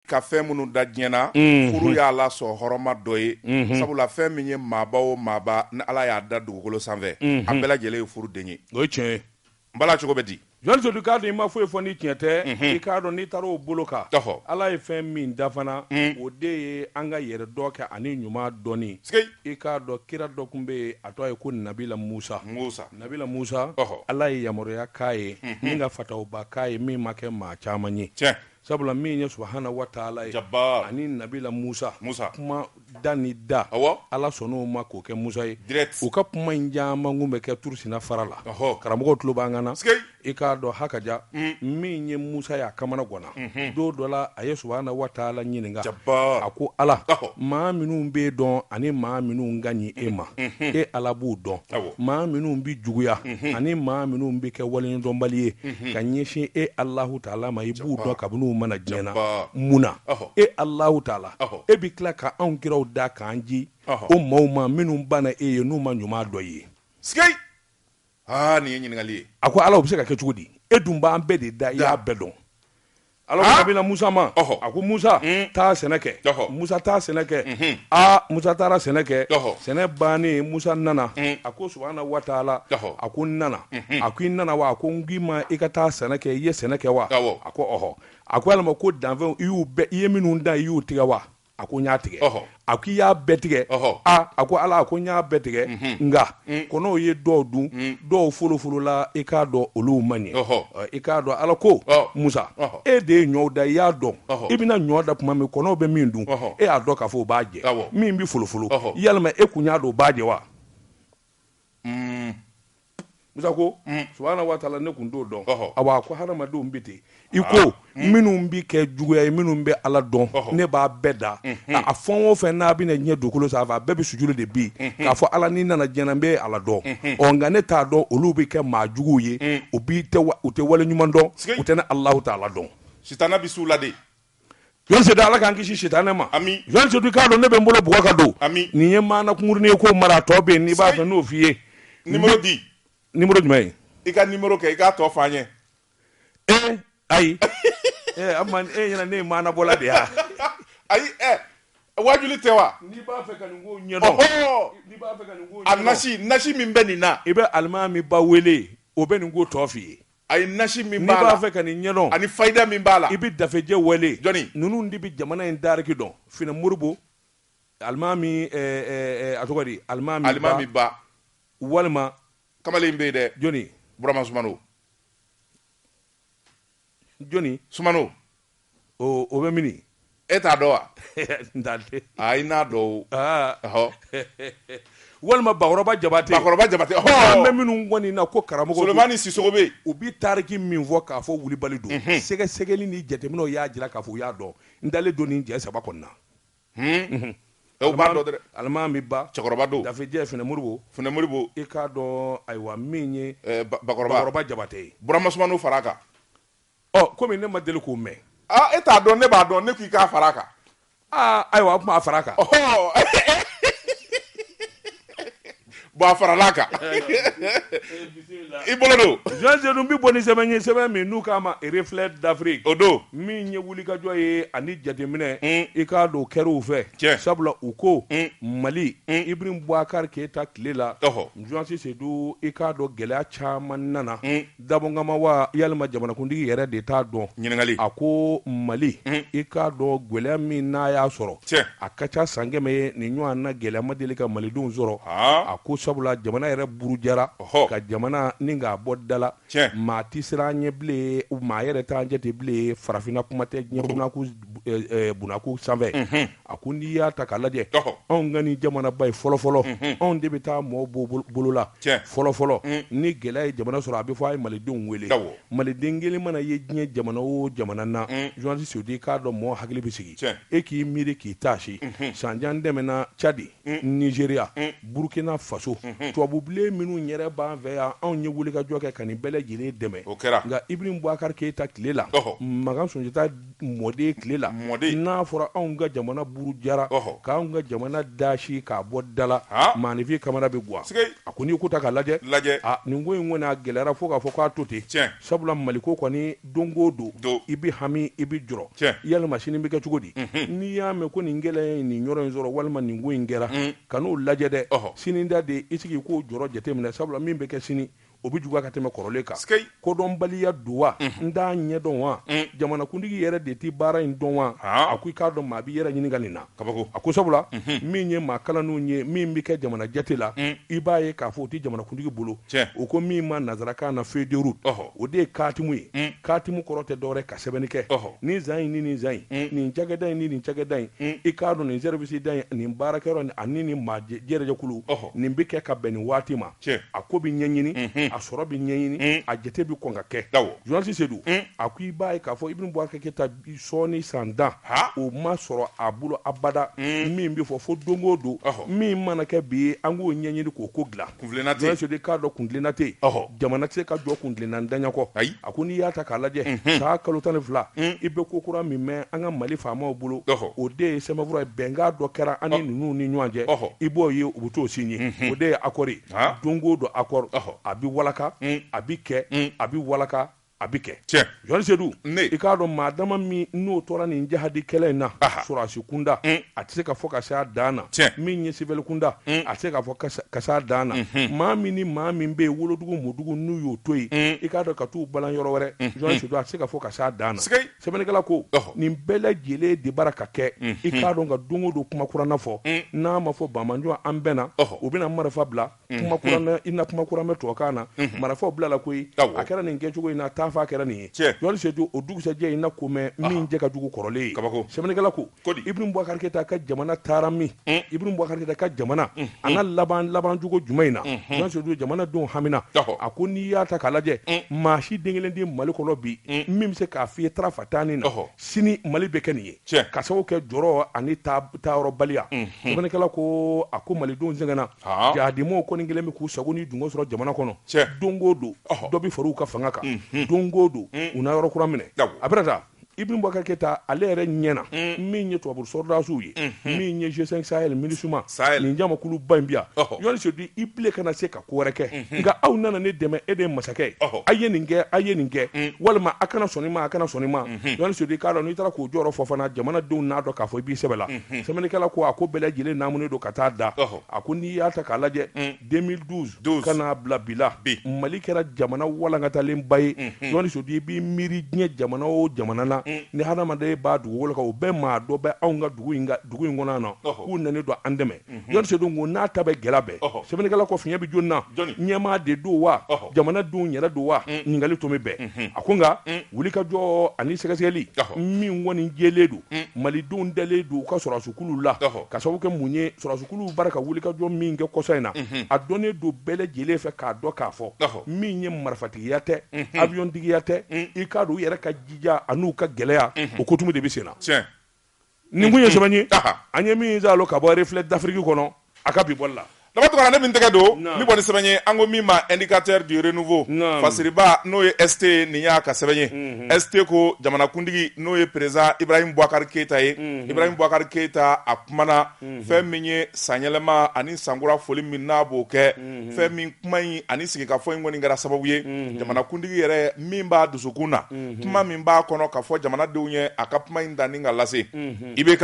ka fɛn minnu da diɲɛ na mhm. furu y'a la sɔn hɔrɔnma dɔ ye mhm. sabula fɛn min ye maaba o maaba ni ala y'a da dugukolo sanfɛ mhm. a bɛɛ lajɛlen ye furu den ye o ye tiɲɛ ye n bala cogo bɛ di jɔn sedu k'a dɔn i ma foyi fɔ ni tiɲɛ tɛ i k'a dɔn n'i taara o bolo kan ala ye fɛn min da fana o de ye an ka yɛrɛdɔn kɛ ani ɲuman dɔnni i k'a dɔn kira dɔ kun bɛ yen a tɔgɔ ye ko nabila musa nabila musa ala ye yamaruya k'a ye min ka fatawuba k'a ye min ma kɛ maa caman ye Sabula min ye subahaana waatala ye ani nabila musa kuma da ni da ala sɔnn'o ma k'o kɛ musa ye u ka kuma in caman kun bɛ kɛ turusiina fara la karamɔgɔw tulo b'an kan na i k'a dɔn hakaja min ye musa ye a kamana ganna don dɔ la a ye subahaana waatala ɲininka a ko ala maa minnu b'e dɔn ani maa minnu ka ɲi e ma e ala b'u dɔn maa minnu bɛ juguya ani maa minnu bɛ kɛ waleɲumandɔnbali ye ka ɲɛsin e alahu taala ma i b'u dɔn kabini u ma na diɲɛ na mun na e alahu taala e bɛ tila ka anw kiraw da k'an ci o maaw ma minnu banna e ye n'u ma ɲuman dɔ ye aa nin ye ɲininkali ye a ko ala o bɛ se ka kɛ cogo di e dun b'an bɛɛ de da i y'a bɛɛ dɔn Ala ko Nabila Musa ma, ɔhɔ, a ko Musa, un, taa sɛnɛ kɛ, ɔhɔ, Musa taa sɛnɛ kɛ, unhun, aa Musa taara sɛnɛ kɛ, ɔhɔ, sɛnɛ bannen Musa nana, un, a ko subahana wataala, ɔhɔ, a ko n nana, unhun, a ko i nana wa, a ko n k'i ma i ka taa sɛnɛ kɛ, i ye sɛnɛ kɛ wa, awɔ, a ko ɔhɔ, a ko yalima ko danfɛnw i y'u bɛɛ, i ye minnu dan i y'u tigɛ wa, a ko n y'a tigɛ a ko i y'a bɛɛ tigɛ a ko ala a ko n y'a bɛɛ tigɛ nka mm. kɔnɔw ye dɔw dun mm. dɔw folofolola i k'a dɔn olu ma ɲɛ i k'a dɔn ala ko musa e de ye ɲɔ dan i y'a dɔn i bɛna ɲɔ dan tuma min kɔnɔw bɛ min dun e y'a dɔn k'a fɔ o b'a jɛ min bɛ folofolo yalima e kun y'a dɔn o b'a jɛ wa mm. Musa ko mm. subahana wa taala ne kun t'o dɔn awa ko hadamadenw bɛ ten i ko ah. mm. minnu bɛ kɛ juguya ye minnu bɛ ala dɔn ne b'a bɛɛ da mm-hmm. a fɛn o fɛn n'a bɛna diɲɛ dugukolo sanfɛ a bɛɛ bɛ sujudu de bin mm-hmm. k'a fɔ ala ni n nana diɲɛ na n bɛ ala dɔn mm-hmm. ɔ nka ne t'a dɔn olu bɛ kɛ maa juguw ye mm. u bi u tɛ wale ɲuman dɔn u tɛ ne alahu taala dɔn sitana bɛ s'u la de jɔn sedu ala k'an kisi sitanɛ ma Ami. jɔn sedu k'a dɔn ne bɛ n bolo bugɔ ka don Ami. nin ye maana kunkurunin ye k'o mara a tɔ bɛ yen n'i b'a fɛ n'o f'i ye nimoro di nimoro jumɛn ye i ka nimoro kɛ i k'a tɔ f'an ye ee ayi ee an man e ɲɛna ne ye maana bɔla de ye a? ayi ɛ waajuli tɛ wa n'i b'a fɛ ka nin ko ɲɛdɔn ɔhɔ n'i b'a fɛ ka nin ko a ɲɛdɔn nasi nasi min bɛ nin na i bɛ alimami ba wele o bɛ nin ko tɔ f'i ye a ye nasi min b'a la, n'i b'a fɛ ka nin ɲɛdɔn, ani fayida min b'a la, i bɛ dafejɛ wele, jɔni? ninnu de bɛ jamana in tariki dɔn, Finɛ Moribo, alimami, a tɔgɔ di, alimami ba, walima, kamalen in bɛ yen dɛ, jɔni? Burama Sumano, jɔni? Sumano. O bɛ mini e t'a dɔn wa n t'a dɔn walima bakɔrɔba jabatɛ an bɛ minnu kɔni na ko karamɔgɔ Solomani Sisoko bɛ yen u bɛ tariki min fɔ k'a fɔ wulibali don sɛgɛsɛgɛli ni jateminɛw y'a jira k'a fɔ u y'a dɔn n dalen don nin jɛ saba kɔnɔna o b'a dɔn alimami ba cɛkɔrɔba don dafejɛ Finɛ Moribo i k'a dɔn ayiwa min ye bakɔrɔba jabatɛ ye Burama Sumano fara kan Ɔ komi ne ma deli k'o mɛn. Aa e t'a dɔn ne b'a dɔn ne k'i k'a fara a kan. Aa ayiwa a kuma a fara a kan. Ɔhɔɔ Bon a faral'a kan. I bolo don. Journaliste Seydou bɛ bɔ ni sɛbɛn ye, sɛbɛn min n'u k'a ma Reflets d'Afrique o don, min ye wulikajɔ ye ani jateminɛ, i k'a dɔn o kɛra u fɛ, tiɲɛ, sabula u ko Mali, Ibrahim Boubacar Keita tile la, ɔhɔ, journaliste Seydou i k'a dɔn gɛlɛya caman nana, Dabɔ kama wa yalima jamanakuntigi yɛrɛ de t'a dɔn? Ɲininkali. A ko Mali, i k'a dɔn gwɛlɛya min n'a y'a sɔrɔ, Tiɲɛ. a ka ca san kɛmɛ ye, nin ɲɔan na gɛlɛya ma deli ka Malidenw sɔrɔ. Haa. A ko sabula jamana yɛrɛ burujara, Ɔhɔ. ka jamana ni k'a bɔ da la. Tiɲɛ. Maa tɛ siran an ɲɛ bilen, maa yɛrɛ t'an jate bilen, farafinna kuma tɛ diɲɛ bunaku, bunaku sanfɛ. Unhun. A ko n'i y'a ta k'a lajɛ anw ka ni jamanaba ye fɔlɔfɔlɔ anw de bɛ taa mɔɔ bɔ bolo la fɔlɔfɔlɔ ni gɛlɛya ye jamana sɔrɔ a bɛ fɔ a ye malidenw wele maliden kelen mana ye diɲɛ jamana o jamana na journaliste Seydou i k'a dɔn mɔgɔ hakili bɛ sigi e k'i miiri k'i taasi san jan tɛmɛna cadi nizeriya burukina faso tubabubilen minnu yɛrɛ b'an fɛ yan anw ye wulikajɔ kɛ ka nin bɛɛ lajɛlen dɛmɛ o kɛra nka Ibrahim Boubacar Keita tile la makan Sunjata mɔden tile la n'a fɔra anw ka jamana burujara k'an ka jamana dasi k'a bɔ dala maanifin kamana bɛ gan a ko n'i ko ta k'a lajɛ nin ko in kɔni a gɛlɛyara fo k'a fɔ k'a to ten sabula maliko kɔni don o don i bɛ hami i bɛ jɔrɔ yalima sini bɛ kɛ cogo di n'i y'a mɛn ko nin gɛlɛya ye nin yɔrɔ in sɔrɔ walima nin ko in kɛra kan'o lajɛ dɛ sini ta de i sigi k'o jɔrɔ jateminɛ sabula min bɛ kɛ sini o bɛ juguya ka tɛmɛ kɔrɔlen kan sikei kodɔnbaliya don wa n t'a ɲɛdɔn wa jamanakuntigi yɛrɛ de tɛ baara in dɔn wa a ko i k'a dɔn maa b'i yɛrɛ ɲininka nin na kabako a ko sabula min ye maa kalannenw ye min bɛ kɛ jamana jate la i b'a ye k'a fɔ o tɛ jamanakuntigi bolo u ko min ma nansarakan na feuille de route o de ye katimu ye katimu kɔrɔ tɛ dɔwɛrɛ ka sɛbɛnni kɛ nin san in ni nin san in nin cakɛda in ni nin cakɛda in i k'a dɔn nin sɛribisida in nin baarakɛyɔrɔ ani nin maa jɛrɛjɛkulu nin bɛ kɛ ka bɛn nin waati ma a ko bɛ ɲɛɲini a sɔrɔ bɛ ɲɛɲini a jate bɛ kɔn ka kɛ journaliste Seydou a ko i b'a ye k'a fɔ Ibrahim Boubacar Keita sɔɔni san tan o ma sɔrɔ a bolo abada min bɛ fɔ fo don o don min mana kɛ bi an k'o ɲɛɲini k'o ko dilan journaliste Seydou i k'a dɔn kuntilenna tɛ yen jamana tɛ se ka jɔ kuntilenna ntanya kɔ ayi A ko n'i y'a ta k'a lajɛ san kalo tan ni fila i bɛ ko kura min mɛn an ka mali faamaw bolo o de ye sɛbɛnfura bɛnkan dɔ kɛra an ni ninnu ni ɲɔgɔn cɛ i b'o ye u bɛ t'o signé o de ye accord don o don accord a bɛ walaka a bɛ kɛ a bɛ walaka a bɛ kɛ jɔni Seydou i k'a dɔn maa dama min n'o tora nin jahadi kɛlɛ in na sɔrɔdasi kunda a tɛ se ka fɔ ka se a dan na Tiɲɛ. min ye siwili kunda a tɛ se ka fɔ ka se- ka se a dan na maa min ni maa min bɛ yen wolodugu mɔdugu n'u y'o to yen i k'a dɔn ka t'u balan yɔrɔ wɛrɛ jɔni Seydou a tɛ se ka fɔ ka se a dan na Sigai. sɛbɛnnikɛla ko Ɔhɔ. nin bɛɛ lajɛlen de bara ka kɛ i k'a dɔn ka don o don kuma kuranna fɔ n'a ma fɔ bamanjɔ an bɛnna Ɔhɔ. u bɛna marifa bila kuma kuranna i na kuma kuran bɛ tubabukan na marafɔw bilala koyi a kɛra nin kɛcogo in na taafa kɛra nin ye jɔni Seydou o dugusɛjɛ i na ko mɛn min cɛ ka jugu kɔrɔlen ye kabako sɛbɛnnikɛla ko Ibrahim Boubacar Keita ka jamana taara min Ibrahim Boubacar Keita ka jamana an ka laban laban jugu jumɛn in na jɔni Seydou jamana denw hamina a ko n'i y'a ta k'a lajɛ maa si den kelen tɛ mali kɔnɔ bi min bɛ se k'a f'i ye tarafa taani na sini mali bɛ kɛ nin ye ka sababu kɛ jɔrɔ ani taayɔrɔbaliya sɛbɛnnikɛla ko a ko malidenw sɛgɛnna jahadimaaw kɔni kɛlen bɛ k'u sago ni dungɔ sɔrɔ jamana kɔnɔ don o don dɔ bɛ far'u ka fanga kan don o don u na yɔrɔ kura minɛ a bɛ taa Ibrahim Boubacar Keita ale yɛrɛ ɲɛ na min ye tubabu sɔrɔdasiw ye min ye G5 Sahel MINUSMA ni jamakuluba in bɛ yan jɔni Seydou i bilen kana se ka ko wɛrɛ kɛ nka aw nana ne dɛmɛ e de ye masakɛ ye aw ye nin kɛ aw ye nin kɛ walima a kana sɔn nin ma a kana sɔn nin ma jɔni Seydou i k'a dɔn n'i taara k'u jɔyɔrɔ fɔ fana jamanadenw n'a dɔn k'a fɔ i b'i sɛbɛ la sɛbɛnnikɛla ko a ko bɛɛ lajɛlen naamunen don ka taa da a ko n'i y'a ta k'a lajɛ 2012 ka n'a bila bi la mali kɛra jamana walankatalennba ye jɔni Seydou i b'i miiri diɲɛ jamana o jamana na ni hadamaden b'a dugukolo kan o bɛɛ maa dɔ bɛ anw ka dugu in kɔnɔ yan nɔ k'u nalen don an dɛmɛ jɔni Seydou ko n'a ta bɛ gɛlɛya bɛɛ sɛbɛnnikɛla ko fiɲɛ bɛ jɔnni na ɲɛmaa de don wa jamanadenw yɛrɛ don wa ɲininkali tun bɛ bɛn a ko nka wuli ka jɔ ani sɛgɛsɛgɛli min kɔni jɛlen don malidenw dalen don u ka sɔrɔdasikuluw la ka sababu kɛ mun ye sɔrɔdasikuluw bara ka wuli ka jɔ min kɛ kɔsa in na a dɔnnen don bɛɛ lajɛlen fɛ k'a dɔn k'a fɔ min ye marifatigiya tɛ aviyɔntigiya tɛ i k'a dɔn u yɛrɛ ka jija ani u ka gɛlɛya o kotumu de bɛ sen na Nin kun ye sɛbɛn ye an ye min zalo ka bɔ Reflet d'Afrique kɔnɔ a ka bi bɔli la Dama Tounkara ne min tɛgɛ don ni bɔ ni sɛbɛn ye an ko min ma Indicateur du Renouveau Fasiriba n'o ye ST nin y'a ka sɛbɛn ye ST ko jamanakuntigi n'o ye président Ibrahim Boubacar Keita ye Ibrahim Boubacar Keita a kumana fɛn min ye sanyɛlɛma ani sankura foli min n'a b'o kɛ fɛn min kuma in ani sigikafɔ in kɔni kɛra sababu ye jamanakuntigi yɛrɛ min b'a dusukun na kuma min b'a kɔnɔ k'a fɔ jamanadenw ye a ka kuma in dan ni ka lase IBK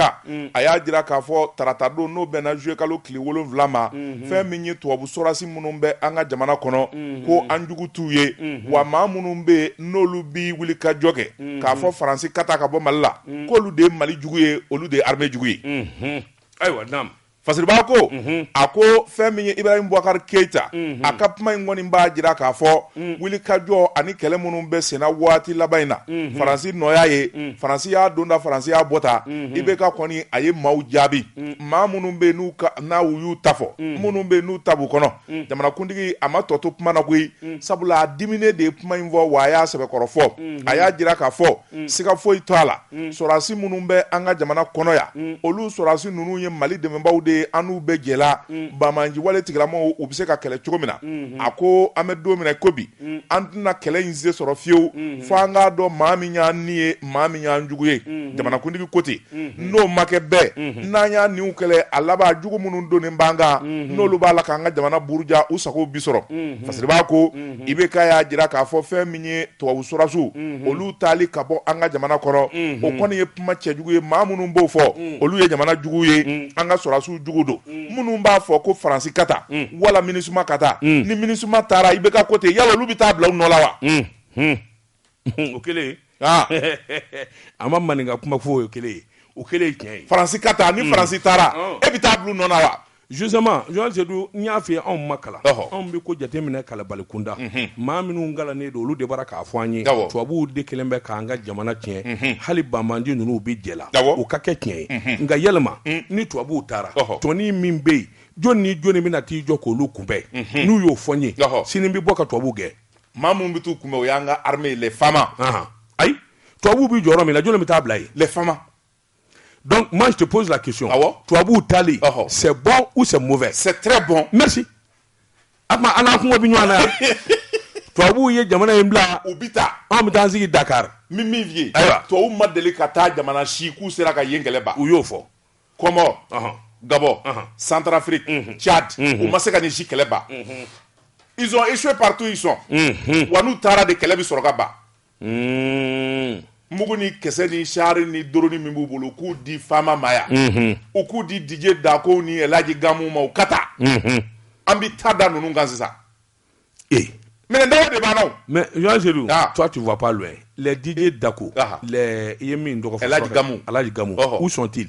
a y'a jira k'a fɔ tarata don n'o bɛnna zuye kalo tile wolon wolonwula ma fɛn min ye tubabu sɔrɔdasi minnu bɛ an ka jamana kɔnɔ ko an jugu t'u ye wa maa minnu bɛ yen n'olu bɛ wulikajɔ kɛ k'a fɔ faransi ka taa ka bɔ mali la k'olu de ye mali jugu ye olu de ye armée jugu ye ayiwa Fasiriba ko a ko fɛn min ye ibrahim bubakari keyita a ka kuma in kɔni b'a jira k'a fɔ wulikajɔ ani kɛlɛ minnu bɛ senna waati laban in na faransi nɔ y'a ye faransi y'a donda faransi y'a bɔda IBK kɔni a ye maaw jaabi maa minnu bɛ yen n'u y'u ta fɔ minnu bɛ yen n'u ta b'u kɔnɔ jamanakuntigi a ma tɔ to kuma na koyi sabula a diminen de ye kuma in fɔ wa a y'a sɛbɛkɔrɔ fɔ a y'a jira k'a fɔ siga foyi t'a la sɔrɔdasi minnu bɛ an ka jamana kɔnɔ yan olu sɔrɔdasi ninnu ye Mali dɛmɛbaaw de ye an n'u bɛɛ jɛla banbaanciwale tigilamɔgɔw u bɛ se ka kɛlɛ cogo min na a ko an bɛ don min na i ko bi an tɛna kɛlɛ in se sɔrɔ fiyewu fo an k'a dɔn maa min y'an ni ye maa min y'an jugu ye jamanakuntigi ko ten n'o ma kɛ bɛɛ n'an y'an niw kɛlɛ a laban jugu minnu donnen b'an kan n'olu b'a la k'an ka jamana buruja u sago bi sɔrɔ Fasiriba ko IBK y'a jira k'a fɔ fɛn min ye tubabu sɔrɔdasiw olu taali ka bɔ an ka jamana kɔnɔ o kɔni ye kuma cɛjugu ye maa minnu b'o fɔ olu ye jamana jugu ye an ka sɔrɔdasiw jugu don minnu b'a fɔ ko faransi ka taa wala MINUSMA ka taa ni MINUSMA taara IBK ko ten yala olu bɛ taa bila u nɔ la wa o kelen ah. a ma maninka kuma fɔ o kelen o kelen ye tiɲɛ ye faransi ka taa ni hmm. faransi taara oh. e bɛ taa bila u nɔ na wa justement Joël Seydou n y'a f'i ye anw ma kalan anw bɛ ko jateminɛ kalanbalikunda mhm. maa minnu kalannen don olu de b'a la k'a fɔ an ye tubabuw de kelen bɛ k'an ka jamana tiɲɛ mhm. hali banbandi ninnu bɛ jɛ la o ka kɛ tiɲɛ ye mhm. nka yɛlɛma ni tubabuw taara tɔni min bɛ yen jɔni ni jɔni bɛna t'i jɔ k'olu kunbɛn n'u y'o fɔ n ye sini bɛ bɔ ka tubabuw gɛn maa minnu bɛ t'u kunbɛn o y'an ka armée les FAMA ahan ayi tubabuw bɛ jɔyɔrɔ min na jɔni bɛ taa bila yen les FAMA donc moi je te pose la question awɔ tubabuw taali ɔhɔ c'est bon ou c'est mauvais c'est très bon merci a tuma an n'an kungo bɛ ɲɔgɔn na yan tubabuw ye jamana in bila u bɛ taa anw bɛ taa an sigi Dakar n bɛ min f'i ye ayiwa tubabuw ma deli ka taa jamana si k'u sera ka yen kɛlɛ ban u y'o fɔ kɔmɔ gabɔn santarafiriki cadi u ma se ka nin si kɛlɛ ban ils ont échoué partout ils sont wa n'u taara de kɛlɛ bɛ sɔrɔ ka ban mugu ni kisɛ ni sari ni dɔrɔni min b'u bolo u k'u di FAMA ma yan u k'u di Didier Dacko ni El Hadj Gamou ma u ka taa an bɛ taa da ninnu kan sisan ee mais dɔw de b'a la o mais Jean Selu ah. toi tu vois pas loin les Didier Dacko ah. les i ye min tɔgɔ fɔ El Hadj Gamu El Hadj Gamu oh. où sont-ils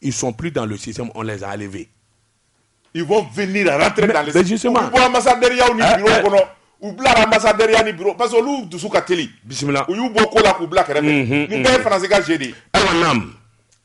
ils sont plus dans le système on les a enlevés ils vont venir rentrer mais, dans le système justement u bɔ ambassadeur yaw ni eh, bureau eh. kɔnɔ u bilara ambassadeur ya ni bureau parce que olu dusu ka teli bisimila u y'u bɔ ko la k'u bila kɛrɛfɛ mhm, nin bɛɛ ye mhm. faransi ka jeu de ye ayiwa naam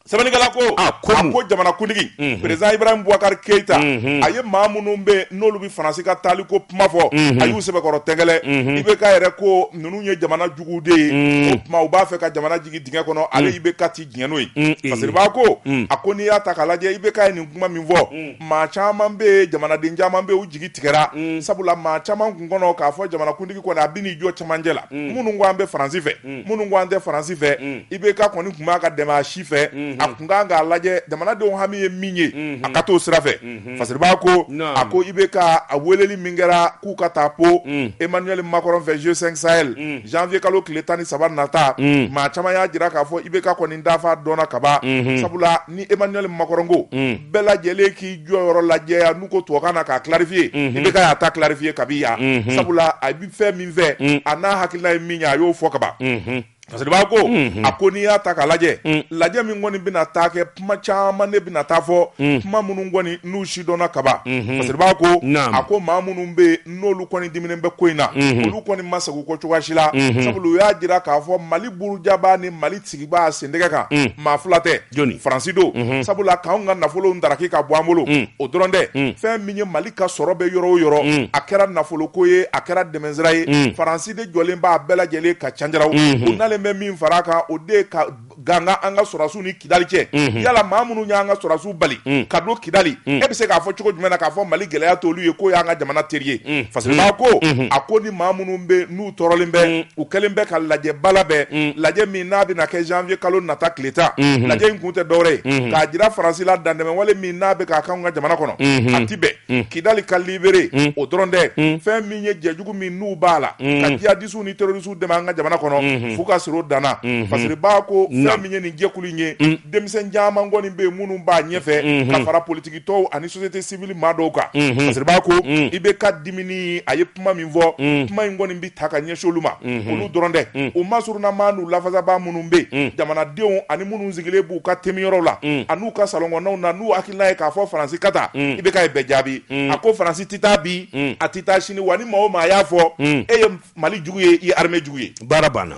sɛbɛnnikɛla ko a ko a ko jamanakuntigi mhm. président Ibrahim Boubacar Keita mhm. a ye maa minnu bɛ n'olu bɛ faransi ka taali ko kuma fɔ mhm. a y'u sɛbɛkɔrɔ tɛgɛlɛ IBK yɛrɛ ko ninnu ye jamana jugu de ye o tuma u b'a fɛ ka jamana jigin dingɛ kɔnɔ ale IBK ti diɲɛ n'o ye fasiriba ko a ko n'i y'a ta k'a lajɛ IBK ye nin kuma min fɔ maa caman bɛ yen jamanaden caman bɛ yen u jigi tigɛra sabula maa caman tun kɔnɔ k'a fɔ jamanakuntigi kɔni a bɛ n'i jɔ cɛmancɛ la minnu ko an bɛ Faransi fɛ minnu ko an tɛ Faransi fɛ IBK kɔni tun man kan ka tɛmɛ a si fɛ a tun kan k'a lajɛ jamanadenw hami ye min ye a ka t'o sira fɛ Fasiriba ko a ko IBK a weleli min kɛra k'u ka taa Pau Emmanuel Macron fɛ G5 Sahel janvier kalo tile tan ni saba nata maa caman y'a jira k'a fɔ IBK kɔni ta fan dɔnna kaban sabula ni Emmanuel Macron ko bɛɛ lajɛlen k'i jɔyɔrɔ lajɛya n'u ko tubabukan na k'a clarifier IBK y'a ta clarifier kabi yan sabula a bɛ fɛn min fɛ a n'a hakilina ye min ye a y'o fɔ kaban fasiriba ko a ko n'i y'a ta k'a lajɛ lajɛ min kɔni bɛna taa kɛ kuma caman ne bɛna taa fɔ kuma minnu kɔni n'u si dɔnna kaban fasiriba ko a ko maa minnu bɛ yen n'olu kɔni diminen bɛ ko in na olu kɔni ma sagin kɔ cogoya si la sabula u y'a jira k'a fɔ mali burujabaa ni mali sigibaa sentɛgɛ kan maa fila tɛ faransi don sabula k'an ka nafolo daraki ka bɔ an bolo o dɔrɔn tɛ fɛn min ye mali ka sɔrɔ bɛ yɔrɔ o yɔrɔ a kɛra nafolo ko ye a kɛra dɛmɛsira ye faransi de jɔlen b'a bɛɛ lajɛlen ka canjaraw u nalen bɛ min fara a kan o de ka gangan an ka sɔrɔsiw ni kidali cɛ yala maa minnu y'an ka sɔrɔsiw bali ka don kidali e bɛ se k'a fɔ cogo jumɛn na k'a fɔ mali gɛlɛya t'olu ye k'o y'an ka jamana teri ye fasiriba ko a ko ni maa minnu bɛ tɔɔrɔlen bɛ mm. u kɛlen bɛ ka lajɛba labɛn mm. lajɛ min n'a bɛna kɛ janvier kalo nata tile tan mm-hmm. lajɛ in kun tɛ dɔwɛrɛ ye mm-hmm. k'a jira faransi la dantɛmɛwale min n'a bɛ k'a k'anw ka jamana kɔnɔ mm-hmm. a ti bɛn mm. kidali ka libéré o dɔrɔn tɛ fɛn min ye jɛjugu min n'u b'a la ka jihadisiw ni terrorisiw dɛmɛ an ka jamana kɔnɔ f'u ka siro danna fasiriba ko fɛn min ye nin jɛkulu in ye denmisɛn caman kɔni bɛ yen minnu b'a ɲɛfɛ ka fara politikitɔnw ani société civile maa dɔw kan fasiriba ko IBK diminen a ye kuma min fɔ mm. kuma in kɔni bɛ taa ka ɲɛsin olu ma mm-hmm. olu dɔrɔn tɛ mm. u masurunnamaa n'u lafasabaa minnu bɛ mm. jamanadenw ani minnu sigilen b'u ka teminyɔrɔ la an'u ka salɔnkɔnɔnaw na n'u hakilina ye k'a fɔ faransi ka taa IBK ye bɛɛ jaabi a ko faransi tɛ taa bi a tɛ taa sini wa ni maa o maa y'a fɔ e ye mali jugu ye i ye armée jugu ye baara banna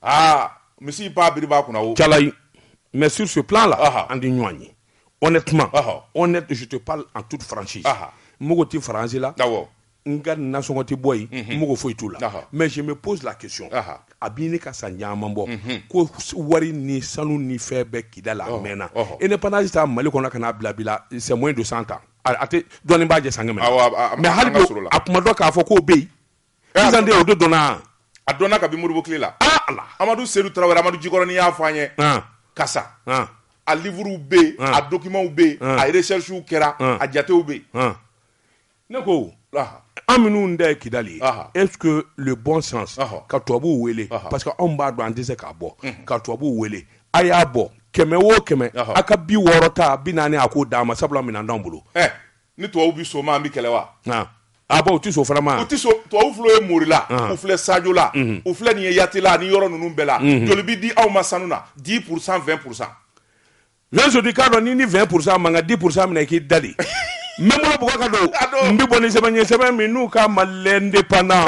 aa misi ba biri b'a kunna o calayi mais sur ce plan là Aha. an tɛ ɲɔgɔn ye honnêtement Aha. honnête je te parle en toute franchise Aha. n mago tɛ faransi la awɔ n ka nasɔngɔ tɛ bɔ yen n mago foyi t'u la Aha. mais je me pose la question Aha. a bɛ ɲini ka san caman bɔ ko s- wari ni sanu ni fɛn bɛ Kidali a mɛnna Ɔhɔ. indépendance ta mali kɔnɔ ka n'a bila bi la c'est moins de 100 ans a a tɛ dɔɔnin b'a jɛ san kɛmɛ Awɔ, a- a- mais hali an ka bi sɔrɔ la. a kun ma dɔn k'a fɔ k'o bɛ yen Sisan de o de dɔnna wa? A dɔnna kabi Modibo tile la. Aa Ala! Amadu Sedu Tarawele, Amadu Jikɔrɔni y'a fɔ an ye. An! Ka sa. An! A livres bɛ yen, an, a documents bɛ yen, an, a recherches kɛra, an, a jatew bɛ yen. An! Ne ko, aha, an minnu ta ye Kidali ye, aha, est ce que le bon sens, ɔhɔ, ka tubabuw wele, ɔhɔ, parce que anw b'a dɔn an tɛ se k'a bɔ, unhun, ka tubabuw wele, a y'a bɔ kɛmɛ o kɛmɛ, ɔhɔ, a ka bi wɔɔrɔ ta, bi naani a k'o d'an ma sabula minɛn t'anw bolo. Ɛ! ni tubabuw bɛ sɔn o ma an bɛ kɛlɛ wa a u tɛ sɔn o fana ma u tɛ sɔn tubabuw filɛ ye morila u filɛ sajola u filɛ nin ye yatela ani yɔrɔ ninnu bɛɛ la joli bɛ di aw ma sanu na dix pour cent vingt pour cent sodi k'a dɔn ni ni vingt pour cent ma ka dix pour cent minɛ k'i dalen n bɛ ka don n bɛ bɔ ni sɛbɛn ye sɛbɛn min n'u k'a ma l'Indépendant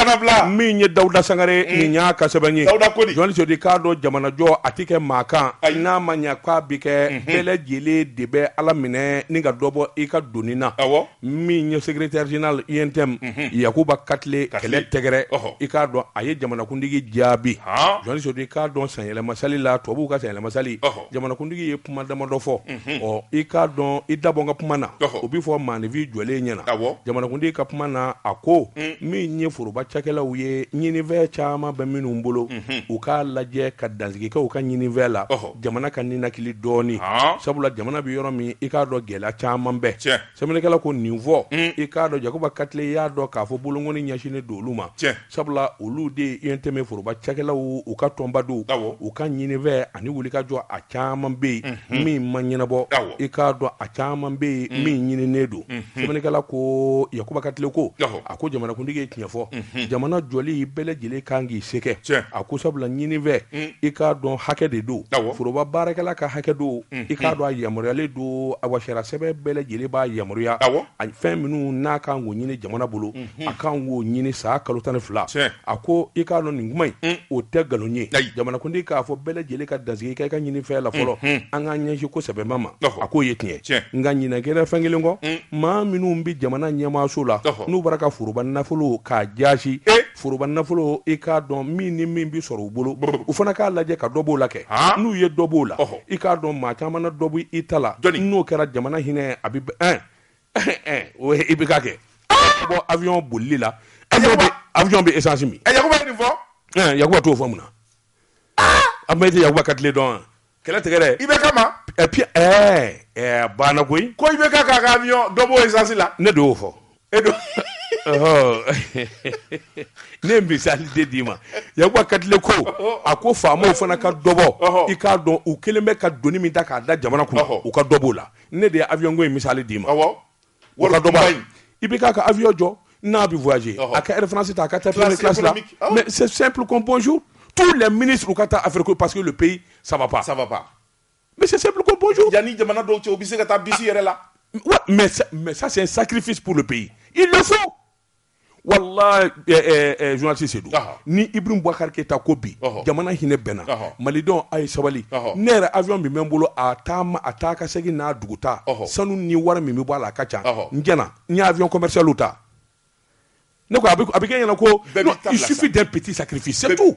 min ye dawuda sangare nin y'a ka sɛbɛn ye i k'a dɔn jamanajɔ a tɛ kɛ maa kan a n'a ma ɲɛ k'a bɛ kɛ bɛɛ lajɛlen de bɛ ala minɛ ni ka dɔ bɔ i ka doni na min ye secrétaire général UNTM yakuba katile kɛlɛ tɛgɛrɛ i k'a dɔn a ye jamanakuntigi jaabi jɔnso i k'a dɔn sanyɛlɛma sali la tubabuw ka sanyɛlɛma sali jamanakuntigi ye kuma damadɔ fɔ ɔ i k'a dɔn i da bɔ n ka kuma na o bɛ fɔ maaninfin jɔlen ɲɛna jamanakuntigi ka kuma na a ko min ye foroba cakɛlaw ye ɲininfɛn caman bɛ minnu bolo u k'a lajɛ ka dansigi kɛ u ka ɲininfɛn la jamana ka ninakili dɔɔni sabula jamana bɛ yɔrɔ min i k'a dɔn gɛlɛya caman bɛ sɛbɛnnikɛla ko nin fɔ i k'a dɔn Yakuba Katile y'a dɔn k'a fɔ bolokɔni ɲɛsinnen don olu ma sabula olu de ye UNTM foroba cakɛlaw u ka tɔnba don u ka ɲininfɛn ani wulikajɔ a caman bɛ yen min ma ɲɛnabɔ i k'a dɔn a caman bɛ yen min ɲininen don sɛbɛnnikɛla ko Yakuba Katile ko a ko jamanakuntigi ye tiɲɛ fɔ jamana jɔli bɛɛ lajɛlen kan k'i se kɛ a ko sabula ɲininfɛn mm. i k'a dɔn hakɛ de don foroba baarakɛla ka hakɛ don mm. i k'a mm. dɔn a yamaruyalen don awa sariya sɛbɛn bɛɛ lajɛlen b'a yamaruya a fɛn minnu n'a kan k'o ɲini jamana bolo mm-hmm. a kan k'o ɲini san kalo tan ni fila a ko i k'a dɔn nin kuma in o tɛ nkalon ye jamanakuntigi k'a fɔ bɛɛ lajɛlen ka dansigi kɛ i ka ɲininfɛn la fɔlɔ mm-hmm. an k'an ɲɛsin ko sɛbɛba ma a k'o ye tiɲɛ nka ɲinan kɛra fɛn kelen kɔ maa minnu bɛ jamana ɲɛmaaso la n'u bara ka foroba nafolo k'a jaasi eh! foroba nafolo i k'a dɔn min ni min bɛ sɔrɔ u bolo u fana k'a lajɛ ka dɔ b'o la kɛ n'u ye dɔ b'o la i k'a dɔn maa caman na dɔ bɔ i ta la n'o kɛra jamana hinɛ a bɛ ɛn eh! eh! o IBK kɛ bɔ avion bolili la avion bɛ essence min yakuba t'o fɔ mun na a ma i tɛ yakuba katile dɔn wa kɛlɛ tigɛrɛ IBK ma et puis ɛɛ ɛɛ banna koyi ko IBK k'a ka avion dɔ b'o essence la ne de y'o fɔ e don ne ye misali de d'i ma yakuba katile ko a ko faamaw fana ka dɔ bɔ i k'a dɔn u kɛlen bɛ ka doni min ta k'a da jamana kunna u ka dɔ b'o la ne de ye avion ko in misali d'i ma wari dɔ b'a ye IBK ka avion jɔ n'a bɛ voyager a ka air France ta a ka taa première classe la mais c'est simple comme bonjour tous les ministres u ka taa Afrique ko parce que le pays ça va pas ça va pas mais c'est simple comme bonjour yanni jamana dɔw cɛ u bɛ se ka taa bisi yɛrɛ la mais mais ça c'est un sacrifice pour le pays il le faut wala zsi se don ni i bɛ bɔkarike ta ko bi jamana hinɛ bɛnna malidɔn a ye sabali ne yɛrɛ a min bɛ n bolo a a taa ka segin n'a dugu ta sanu ni wara min bɛ bɔ a la a ka ca n j n y'a fɔ kɔmiri ta ne a bɛ kɛ ɲɛna kofin tɛ pti sa kiri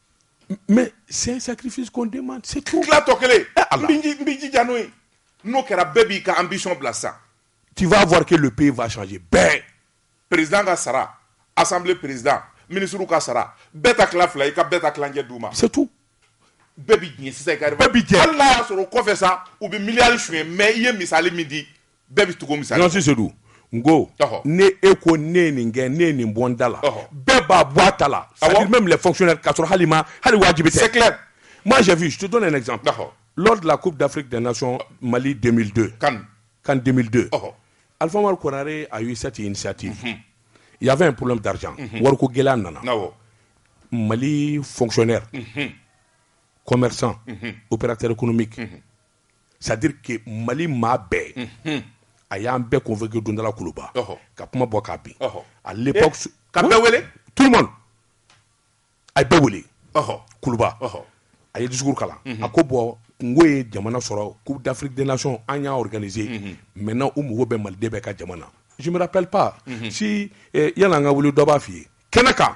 mɛ sen sakifisi kɔnden ma se tu tɔ kelen n bɛ jija n'o ye n'o kɛra bɛɛ b'i ka an bisɔn bila sa ti b'a fɔrike lu pe vazɔnji bɛɛ perez ka sara asan perezd minisiri ka sara bɛɛ ta tila fila i ka bɛɛ ka tilancɛ d' u ma setu bɛɛ bɛ sisan bɛɛ bɛ jɛ hali n'a y'a sɔrɔ o kɔfɛ sa u bɛ miiriyali su ye mɛ i ye misali min di bɛɛ bɛ tugu misali nɔfɛ Sedu n ko Ɔhɔ. ni e ko ne ye nin kɛ ne ye nin bɔ n da la Ɔhɔ. bɛɛ b'a bɔ i ta la c'est à Awɔ. dire même les fonctionnaires k'a sɔrɔ hali ma hali wajibi tɛ c'est clair moi j'ai vu je te donne un exemple Ɔhɔ. lors de la coupe d'Afrique des nations Mali 2002 CAN 2002 Ɔhɔ. Alpha Umaru Konare a eu cette initiative il y avait un problème d'argent wariko gɛlɛya nana awɔ Mali fonctionnaire commerçant opérateur économique sadike mali maa bɛɛ a y'an bɛɛ kofɛke dondala kuluba ka kuma bɔ k'a bin a ka wele tu a bɛ wele kuluba a ye dusu kalan a ko bɔn n ko ye jamana sɔrɔ k'u dafiridenlac an y'awkazse mɛ n' u mago bɛ maliden bɛ ka jamana zra pp si yan ka wuli dɔ b'a fɔ i ye kɛnɛ kan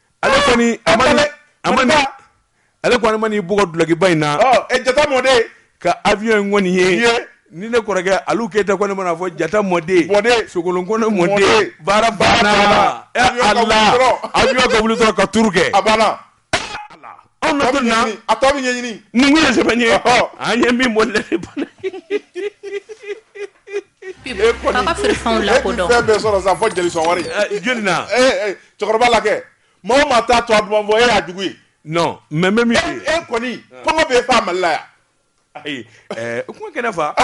Ale kɔni a ma ni- a ma ni- Maliba. ale kɔni ma n'i bugɔ dulokiba in na Ɔ, ɛ, jata mɔden ka avion in kɔni ye Ye. ni ne kɔrɔkɛ alu keyita kɔni mana fɔ jata mɔden Mɔden. sogolon kɔnɛ mɔden Mɔden. baara banna banna. ɛ Avion ka wuli ala dɔrɔn. avion ka wuli dɔrɔn ka turu kɛ a banna Anw bɛ don na a tɔ bɛ ɲɛɲini numu ye sɛbɛn ye an ye min bɔ lɛ bana bɛ sɔrɔ sa fɔ jeli son wari jeli na cɛkɔrɔba la kɛ mɔgɔ ma taa to a bɔ e y'a jugu ye mɛ bɛ min e kɔni kɔngɔ bɛ fa mali la yan Ayi u kuma kɛnɛ ne fa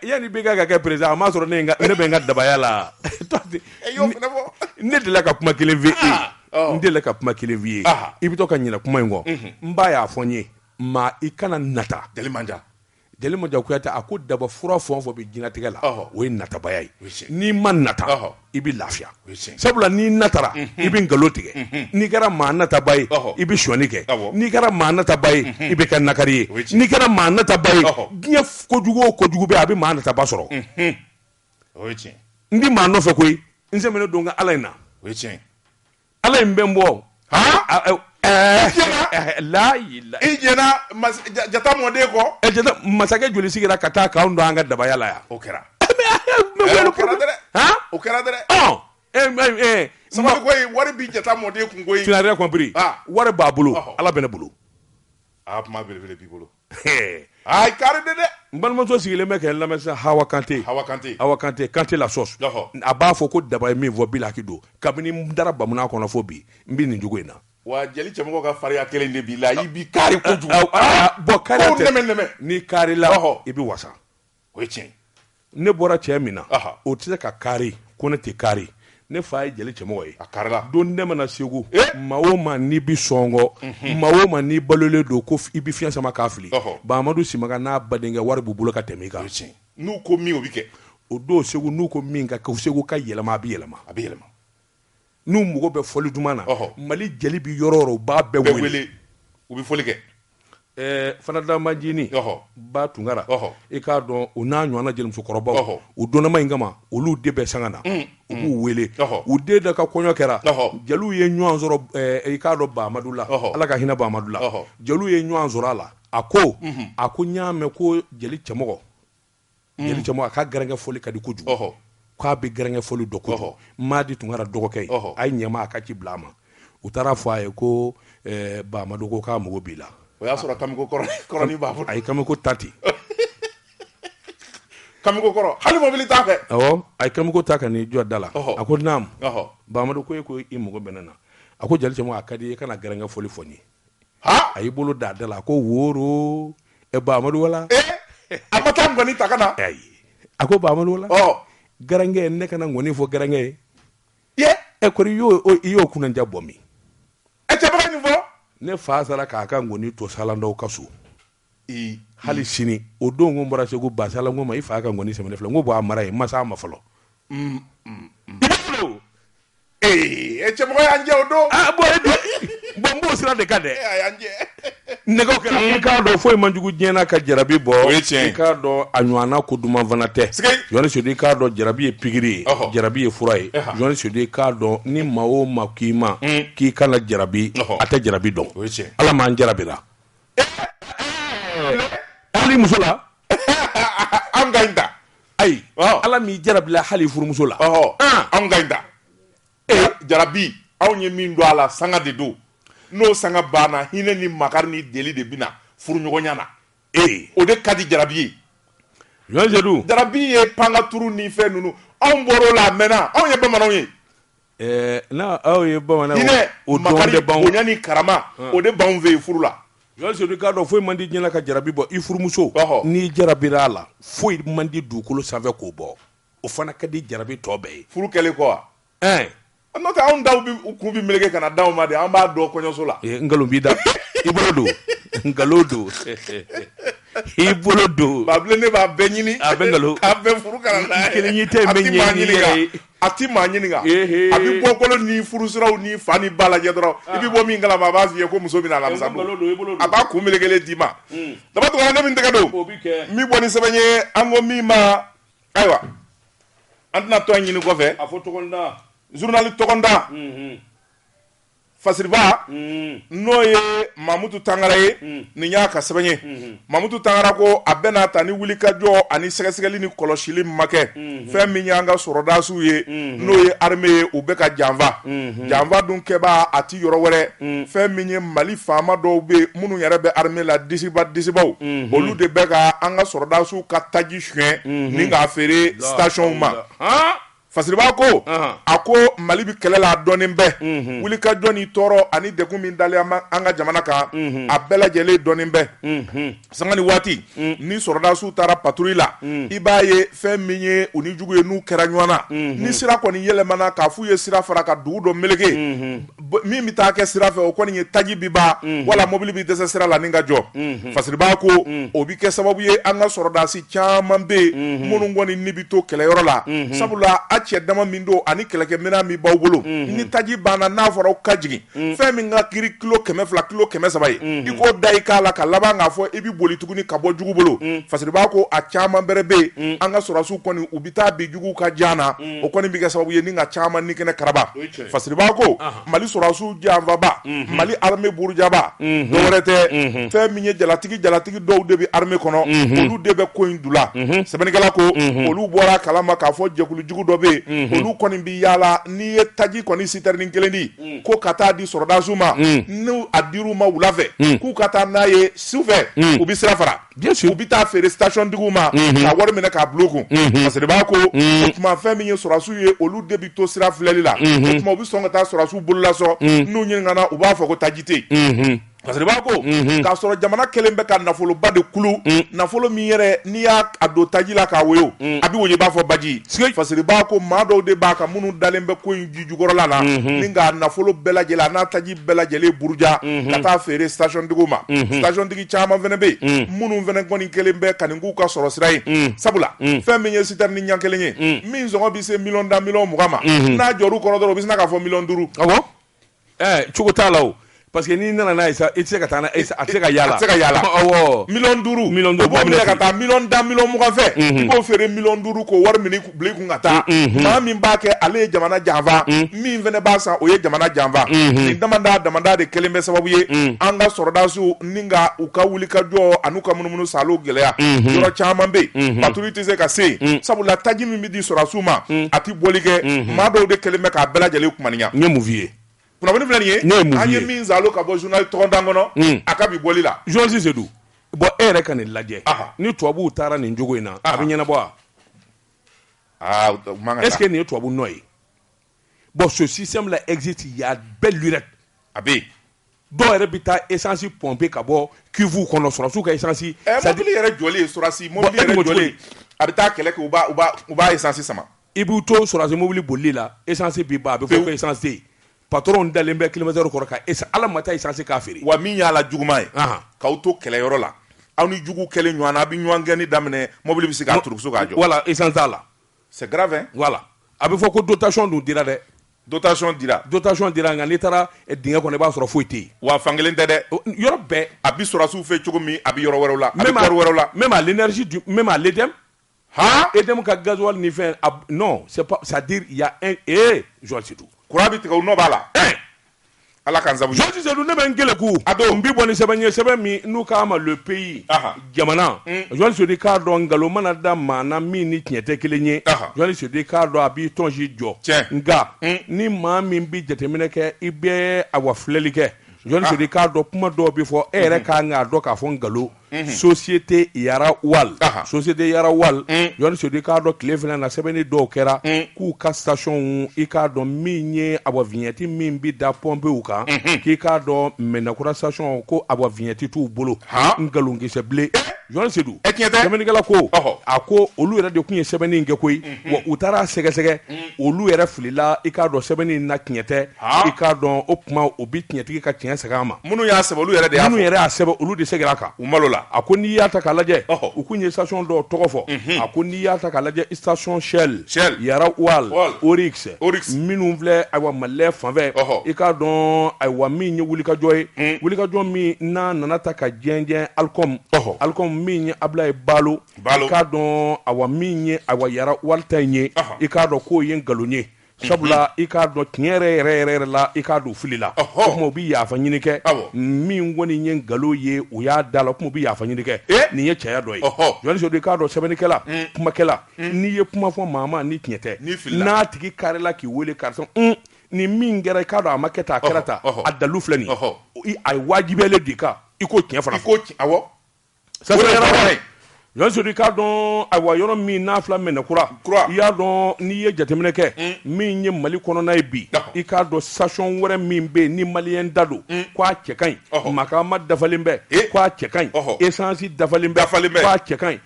yani i bɛ ka kɛ président a m'a sɔrɔ ne bɛ n ka dabaya la ne delila ka kuma kelen fɔ n delila ka kuma kelen fɔ i ye i bɛ to ka ɲina kuma in kɔ n ba y'a fɔ n ye maa i kana nata jeli Manja Kuyate a ko daba fura fɔ fɔ bɛ jinatigɛ la o ye natabaya ye n'i ma nata i bɛ lafiya sabula n'i natara i bɛ nkalon tigɛ n'i kɛra maa nataba ye i bɛ shɔni kɛ n'i kɛra maa nataba ye i bɛ kɛ nakari ye n'i kɛra maa nataba ye diɲɛ kojugu o kojugu bɛ a bɛ maa nataba sɔrɔ n tɛ maa nɔfɛ koyi n sɛmɛnen don n ka ala in na ala in bɛ n bɔ jata mɔden ko masakɛ joli sigira ka taa k'an to an ka dabaya la yan o kɛra o kɛra wari bi jata mɔden kun wari b'a bolo ala bɛ ne bolo aaa kari de dɛ n balimamuso sigilen bɛ ka n lamɛn sisan hawa kante kante la sauce a b'a fɔ ko daba ye min fɔ bilaki don kabini n dara ba Muna kɔnɔ fo bi n bɛ nin jogo in na wa jeli cɛmɔgɔ ka fariya kelen de b'i la i bi kari bon kari ni kari la i bɛ wasa o ye tiɲɛ ne bɔra cɛ min na o tɛ se ka kari ko ne tɛ kari ne fa ye jeli cɛmɔgɔ ye a karilen don ne mɔna segu maa o maa n'i bɛ sɔngɔ mhm. maa o maa n'i balolen don ko i bɛ fiɲɛ sama k'a fili Bahamadu Simaga n'a badenkɛ wari b'u bolo ka tɛmɛ i kan n'u ko min o bɛ kɛ o don segu n'u ko min ka kɛ segu ka yɛlɛma a bɛ yɛlɛma n'u mago bɛ fɔli duman na Ɔhɔ. Mali jeli bɛ yɔrɔ o yɔrɔ u b'a bɛɛ wele u bɛ fɔli kɛ Ɛɛ Fanta Majini Ɔhɔ. ba Tunkara Ɔhɔ. i k'a dɔn o n'a ɲɔgɔnna jelimusokɔrɔbaw Ɔhɔ. u dɔnnama in kama olu de bɛ sanga na u b'u wele Ɔhɔ. u den dɔ ka kɔɲɔ kɛra Ɔhɔ. jeliw ye ɲɔgɔn sɔrɔ ɛɛ i k'a dɔn Bahamadu la Ɔhɔ. Ala ka hinɛ Bahamadu la Ɔhɔ. jeliw ye ɲɔgɔn sɔrɔ a la a ko a ko n y'a mɛn ko jeli cɛmɔgɔ Jeli cɛmɔgɔ a ka garankɛ fɔli ka di kojugu. Ɔhɔ. K'a bɛ garankɛ fɔli dɔn kojugu. Ɔhɔ. Madi Tunkara dɔgɔkɛ ye. Ɔhɔ. A ye ɲɛmaa a ka ci bila a ma. U taara fɔ a ye ko ɛɛ Baamadu ko k'a mago b'i la. O y'a sɔrɔ Kamiko kɔrɔnin b'a bolo. A ye Kamiko ta ten. Kamiko kɔrɔ hali mɔbili t'a fɛ. Awɔ. A ye Kamiko ta ka n'i jɔ da la. Ɔhɔ. A ko naamu. Ɔhɔ. Baamadu ko e ko i mago bɛ ne na. A ko jeli cɛmɔgɔ a ka di n ye i ka na garankɛ fɔli fɔ n ye. a y'i bolo da da la a ko woro e ba amadu wala e ma taa ŋɔni ta ka na a ko ba amadu wala garankɛ ne kana ŋɔni fɔ garankɛ ye ɛ kɔri i y'o kunnaja bɔ min e cɛbaga nin fɔ ne fa sara k'a ka ŋɔni to salandaw ka so hali sini o don ko n bɔra segu ba salan ko ma i fa ka nkɔni sɛbɛn filɛ ko b'a mara ye masa ma fɔlɔ mm, mm, mm. ee cɛmɔgɔ y'an jɛ o don ah, bon b'o sira de kan dɛ nɛgɛ kɛra i k'a dɔn foyi man jugu diɲɛ na ka jarabi bɔ i k'a dɔn a ɲɔgɔnna ko duman fana tɛ jɔni sodu i k'a dɔn jarabi ye pikiri ye jarabi ye fura ye jɔni sodu i k'a dɔn ni maa o maa k'i ma k'i kana jarabi a tɛ jarabi dɔn ala m'an jarabira hali muso la an ka ɲi ta ayi ala m'i jarabila hali furumuso la an ka ɲi ta jarabi anw ye min dɔn a la sanga de don n'o sanga banna hinɛ ni makari ni deli de bɛna furuɲɔgɔnya na ee o de ka di jarabi ye jɔni sodu jarabi ye panka turu ni fɛn ninnu anw bɔra o la a mɛnna anw ye bamananw ye Ɛɛ anw ye bamananw bonya ni karama o de b'an fɛ furu la k'a dɔn foyi man di diɲɛ na ka jarabi bɔ i furumuso n'i jarabira a la foyi man di dugukolo sanfɛ k'o bɔ o fana ka di jarabi tɔ bɛɛ ye furu kɛlen kɔ wa ɛɛ an taw kun bɛ meleke ka na d'an ma de an b'a dɔn kɔɲɔso la nkalon b'i da i bolo don nkalon don i bolo don ne b'a bɛɛ ɲini a bɛ kelen ɲɛ tɛ ɲini A tɛ maa ɲininka a bɛ bɔkolo ni furusiraw ni fa ni ba lajɛ dɔrɔn i bɛ bɔ min kalama a b'a f'i ye ko muso bɛ na alamisa don a b'a kun melekelen d'i ma daba tunkara ne min tɛgɛ don min bɔ ni sɛbɛn ye an ko min ma ayiwa an tɛna tɔn ɲini kɔfɛ a fɔ journal tɔgɔda Fasiriba n'o ye mamutu tangara ye nin y'a ka sɛbɛn ye mamutu tangara ko a bɛna ta ni wulikajɔ ani sɛgɛsɛgɛli ni kɔlɔsili ma kɛ fɛn min y'an ka sɔrɔdasiw ye n'o ye armée ye u bɛ ka janfa janfa dun kɛbaa tɛ yɔrɔ wɛrɛ fɛn min ye mali faama dɔw bɛ minnu yɛrɛ bɛ armée la disiba disibaw olu de bɛ ka an ka sɔrɔdasiw ka taji sonya ni k'a feere stationw ma Fasiriba ko a ko mali bɛ kɛlɛ la dɔnnen bɛɛ wulikajɔ ni tɔɔrɔ ani degun min dalen an ka jamana kan a bɛɛ lajɛlen dɔnnen bɛɛ sanga ni waati ni sɔrɔdasiw taara patrouille la i b'a ye fɛn min ye u ni jugu ye n'u kɛra ɲɔgɔn na ni sira kɔni yɛlɛmana k'a f'u ye sira fara ka dugu dɔ meleke min bɛ taa kɛ sira fɛ o kɔni ye taji bi ban wala mobili bɛ dɛsɛ sira la ni ka jɔ fasiriba ko o bɛ kɛ sababu ye an ka sɔrɔdasi caman bɛ yen minnu kɔni ni bɛ to kɛlɛyɔrɔ la sabula a cɛ dama min don ani kɛlɛkɛminɛn min b'aw bolo ni taji banna n'a fɔra aw ka jigin fɛn min ka giri kilo kɛmɛ fila kilo kɛmɛ saba ye i k'o da i k'a la ka laban k'a fɔ i bɛ boli tuguni ka bɔ jugu bolo fasiriba ko a caman bɛrɛ bɛ yen an ka sɔrɔdasiw kɔni u bɛ taa bin jugu ka jan na o kɔni bɛ kɛ sababu ye ni ka caman ni kɛnɛ kara fasiriba ko mali sɔrɔsiw janfaba mali armée burujaba dɔ wɛrɛ tɛ fɛn min ye jalatigi jalatigi dɔw de bɛ armée kɔnɔ olu de bɛ ko in dula sɛbɛnnikɛla ko olu bɔr'a kalama k'a fɔ jɛkulujugu dɔ bɛ yen olu kɔni bɛ yaala n'i ye taji kɔni citerne kelen di ko ka taa di sɔrɔdasiw ma n'a dir'u ma wula fɛ k'u ka taa n'a ye su fɛ u bɛ sira fara u bɛ taa feere stationtigiw ma ka wari minɛ k'a bil'u kun fasiriba ko o tuma fɛn min ye sɔrɔsiw ye olu de bɛ to sira filɛli la o tuma u bɛ sɔn ka taa sɔrɔsiw bololasɔ n'u ɲininkana u b'a fɔ ko taji tɛ yen fasiriba ko k'a sɔrɔ jamana kɛlen bɛ ka nafoloba de kulu nafolo min yɛrɛ n'i y'a don taji la k'a woyo a bɛ woyo i b'a fɔ baji fasiriba ko maa dɔw de b'a kan minnu dalen bɛ ko in ji jukɔrɔla la ni k'a nafolo bɛɛ lajɛlen n'a taji bɛɛ lajɛlen buruja mhm. ka taa feere stationtigiw ma mhm. stationtigi caman fana bɛ yen mhm. minnu fana kɔni kɛlen bɛ ka nin k'u ka sɔrɔsira ye sabula fɛn min ye citerne ɲɛ kelen ye min sɔngɔ bɛ se miliyɔn tan miliyɔn mugan ma n'a jɔr'u kɔrɔ dɔrɔn u bɛ sina k'a fɔ miliyɔn duuru eh, cogo t'a la o parce que n'i nana n'a ye sa i tɛ se ka taa n'a ye a tɛ se ka yaala a tɛ se ka yaala awɔ miliyɔn duuru miliyɔn duuru b'o minɛ ka taa miliyɔn tan miliyɔn mugan fɛn i b'o feere miliyɔn duuru k'o wari minɛ kun ka taa maa min b'a kɛ ale ye jamana janfa min fana b'a san o ye jamana janfa nin damadama de kɛlen bɛ sababu ye an ka sɔrɔdasiw ni ka u ka wulikajɔ an'u ka munumunusaalo gɛlɛya yɔrɔ caman bɛ yen patrouille tɛ se ka se sabula taji min bɛ di sɔrɔsiw ma a tɛ bɔli kɛ maa dɔw de kɛlen bɛ k'a bɛɛ lajɛlen kumaniya n ye mun f'i ye kunnafoni filɛ nin ye ne ye mun an ye ye? min zalo ka bɔ journal tɔgɔntan kɔnɔ Mm. a ka bi bɔli la journaliste Sedu bon e yɛrɛ ka nin lajɛ Aha. ni tubabuw taara nin jogo in na a bɛ ɲɛnabɔ wa aa u man ka est ce que taa nin ye tubabu nɔ ye bon ce système là existe il y a belle lurette a bɛ yen dɔw yɛrɛ bɛ taa essence pomper ka bɔ cuve kɔnɔ sɔrɔsiw ka essence ɛ c'est à dire- mobili yɛrɛ jɔlen sɔrɔsi Bon, mobili e yɛrɛ dun ko cogo jɔlen di? a bɛ taa kɛlɛ kɛ u b'a u b'a u b'a essence sama I b'u to sɔrɔsi mobili bolili la essence bɛ ban a bɛ fɔ ko essence tɛ yen patron dalen bɛ climatiseur kɔrɔ ka essence hal'a ma taa essence k'a feere, wa min y'a la juguman ye, anhan, k'aw to kɛlɛyɔrɔ la aw ni juguw kɛlen ɲɔgɔn na aw bɛ ɲɔgɔn gɛnni daminɛ mobili bɛ se k'a turukusu k'a jɔ, voilà essence t'a la, c'est grave hein, voilà a bɛ fɔ ko dotation dun dira dɛ, dotation dira, dotation dira nka n'i taara dingɛ kɔnɔ i b'a sɔrɔ foyi tɛ yen, wa fan kelen tɛ dɛ, yɔrɔ bɛɛ, a bɛ sɔrɔsiw fɛ cogo min a bɛ yɔrɔ wɛrɛw la, a bɛ corps wɛrɛw la, même à l'énergie du, même à l'EDM Haan EDM ka gasoil ni fɛn a b non c'est pas c'est à dire il y'a un ee Jon Seydou courant bi tigɛ u nɔ b'a la ee Ala k'an sabu ɲuman Jon Seydou ne bɛ n keleku a don n bi bɔ ni sɛbɛn ye sɛbɛn min n'u k'a ma le pays ɔnhɔn jamana unh Jon Seydou i k'a dɔn nkalon mana da maa na min ni tiɲɛ tɛ kelen ye ɔnhɔn Jon Seydou i k'a dɔn a b'i tɔnsi jɔ tiɲɛ nka unh ni maa min bi jateminɛ kɛ i bɛ awa filɛli kɛ Jon Seydou i k'a dɔn kuma dɔw bi fɔ e yɛrɛ ka kan k'a dɔn k'a fɔ nkalon société Yara Oil société Yara Oil Jon Seydou i k'a dɔn tile fila na sɛbɛnni dɔw kɛra k'u ka stationw i k'a dɔn min ye AMAM vignette min bɛ da pɔnpew kan k'i k'a dɔn mɛnnakura station ko AMAM vignette t'u bolo nkalonkisɛbilen Jon Seydou sɛbɛnnikɛla ko a ko olu yɛrɛ de tun ye sɛbɛnni in kɛ koyi wa u taara a sɛgɛsɛgɛ olu yɛrɛ filila i k'a dɔn sɛbɛnni na tiɲɛ tɛ i k'a dɔn o tuma u bɛ tiɲɛtigi ka tiɲɛ segin a ma minnu y'a sɛbɛn olu yɛrɛ de y'a minnu yɛrɛ y'a sɛbɛn olu de seginna a kan u malo la a ko n'i y'a ta k'a lajɛ u kun ye station dɔw tɔgɔ fɔ a ko n'i y'a ta k'a lajɛ station shell shell Yara Oil Oryx Oryx minnu filɛ ayiwa Mali Lait fanfɛ i k'a dɔn ayiwa min ye wulikajɔ ye wulikajɔ min n'a nana ta ka jɛnjɛn alcom alcom min ye ablaye balo k'a dɔn ayiwa min ye ayiwa Yara Oil ta in ye i k'a dɔn k'o ye nkalon ye sabula i k'a dɔn tiɲɛ yɛrɛ yɛrɛ yɛrɛ yɛrɛ la i k'a dɔn filila o tuma u bɛ yafa ɲini kɛ min kɔni ye nkalon ye u y'a da la o tuma u bɛ yafa ɲini kɛ nin ye cɛya dɔ ye Jon Seydou i k'a dɔn sɛbɛnnikɛla kumakɛla n'i ye kuma fɔ maa ma ni tiɲɛ tɛ n'a tigi karila k'i weele karisa nin min kɛra k'a dɔn a ma kɛ tan a kɛra tan a dalu filɛ nin a wajibiyalen d'i kan i k'o tiɲɛ fana fɔ sodi k'a dɔn a yɔrɔ min n'a fila mɛn kura i y'a dɔn n'i ye jateminɛ kɛ hmm. min ye mali kɔnɔna ye bi i k'a dɔn sacɔn wɛrɛ min bɛ ni mali ye da don hmm. k' a cɛ ka ɲi maa ma dafalen bɛɛ eh. k' a cɛ ka ɲi esansi dafalen bɛɛ falen bɛɛ k'a cɛ ka ɲi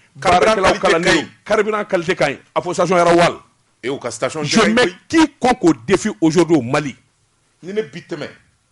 kariina kalise ka ɲi a fɔ sacɔn yɛrɛ wali e ka k'i kɔ k'o defin ojo don mali ni ne bi tɛmɛ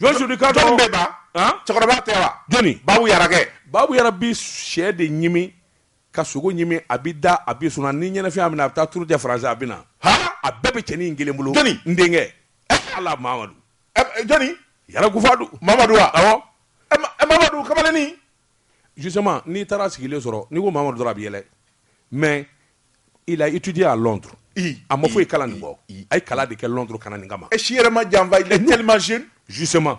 Jon Seydou i k'a dɔn bɛ ba cɛkɔrɔba tɛ wa jɔnni babu yara kɛ babu yara bi sɛ de ɲimi ka sogo ɲimi a bi da a bi sunɔgɔ ni ɲɛnafin y'a minɛ a bɛ taa turu kɛ faransi a bɛ na a bɛɛ bɛ cɛnin in kelen bolo jɔnni n denkɛ ala mamadu jɔnni yara kufadu mamadu wa awɔ mamadu kamalennin justement n'i taara sigilen sɔrɔ n'i ko mamadu dɔrɔn a bɛ yɛlɛ mais il a étudié à Londres a ma foyi kalan nin kɔ a ye kalan de kɛ Londres ka na nin kama a si yɛrɛ ma janfa il est tellement jeune justement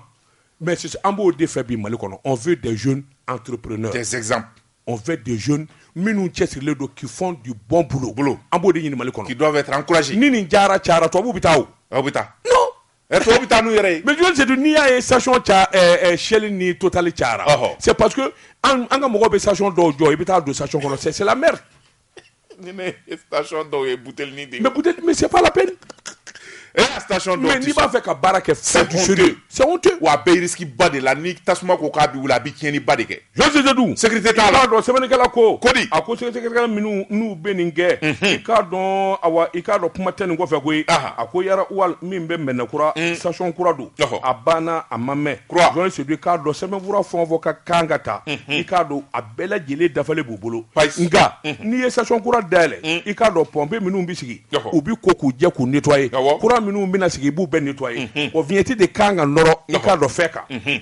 mais c'est an b'o de fɛ bi Mali kɔnɔ on veut des jeunes entrepreneurs des exemples on veut des jeunes minnu cɛsirilen don qui font du bon boulot boulot an b'o de ɲini Mali kɔnɔ qui doivent être encouragés ni nin jara cayara tubabuw bɛ taa o aw bɛ taa non Ɛ tɔw bɛ taa n'u yɛrɛ ye mais John Seydou n'i y'a ye station ca ɛɛ Shell ni Total cayara ɔhɔ c'est parce que an an ka mɔgɔw bɛ station dɔw jɔ i bɛ taa don station kɔnɔ c'est c'est la merde ni ne ye station dɔw ye butelini de mais buteli mais c'est pas la peine il y a station dɔw mais n'i b'a fɛ ka baara kɛ c'est honteux c'est honteux wa a bɛ risque ba de la ni tasuma ko k'a bɛ wuli a bɛ tiɲɛni ba de kɛ John Seydou sécurité t'a la i k'a dɔn sɛbɛnnikɛla ko ko a ko sɛgɛsɛgɛkɛla minnu n'u bɛ nin kɛ i k'a dɔn a i k'a dɔn kuma tɛ nin kɔfɛ koyi a ko Yara Oil min bɛ Mɛdinakura station kura don a banna a ma mɛn John Seydou i k'a dɔn sɛbɛnfura fɛn o fɛn ka kan ka ta i k'a dɔn a bɛɛ lajɛlen dafalen b'u bolo nka n'i ye station kura dayɛlɛ i k'a dɔn pɔnpe minnu bɛ sigi u bɛ ko k'u jɛ k'u nettoyer kura minnu bɛna sigi i b'u bɛɛ nettoyer o vignette de kan ka nɔrɔ i k'a dɔn fɛn kan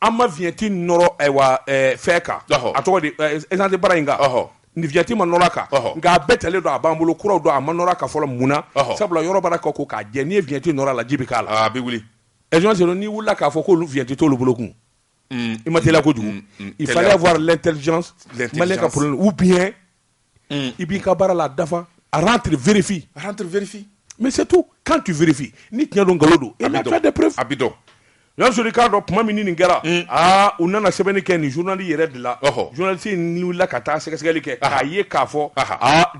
An ma vignette nɔrɔ ayiwa fɛn kan, ɔhɔ, a tɔgɔ di essence bara in kan, ɔhɔ, ni vignette ma nɔrɔ a kan, ɔhɔ, nka a bɛɛ talen don, a b'an bolo kuraw don, a ma nɔrɔ a kan fɔlɔ mun na? Ɔhɔ, sabula yɔrɔ baara k'a ko k'a jɛ, n'i ye vignette nɔrɔ a la ji bɛ k'a la, aa a bɛ wuli, ɛ John Seydou n'i wulila k'a fɔ k'olu vignette t'olu bolo kun, un, i ma teliya kojugu, un, il fallait avoir l'intelligence, l'intelligence, Maliyɛn ka problème ou bien i b'i ka baara la dafa ararifin ararfin mɛ se tu kan tufin ni tiɲɛ don nkalon don a bɛ dɔn k'a dɔn tuma min nin kɛra aa u nana sɛbɛnni kɛ nin zli yɛrɛ dilanla ka taa sɛgɛsɛgɛli kɛ k'a ye k'a fɔ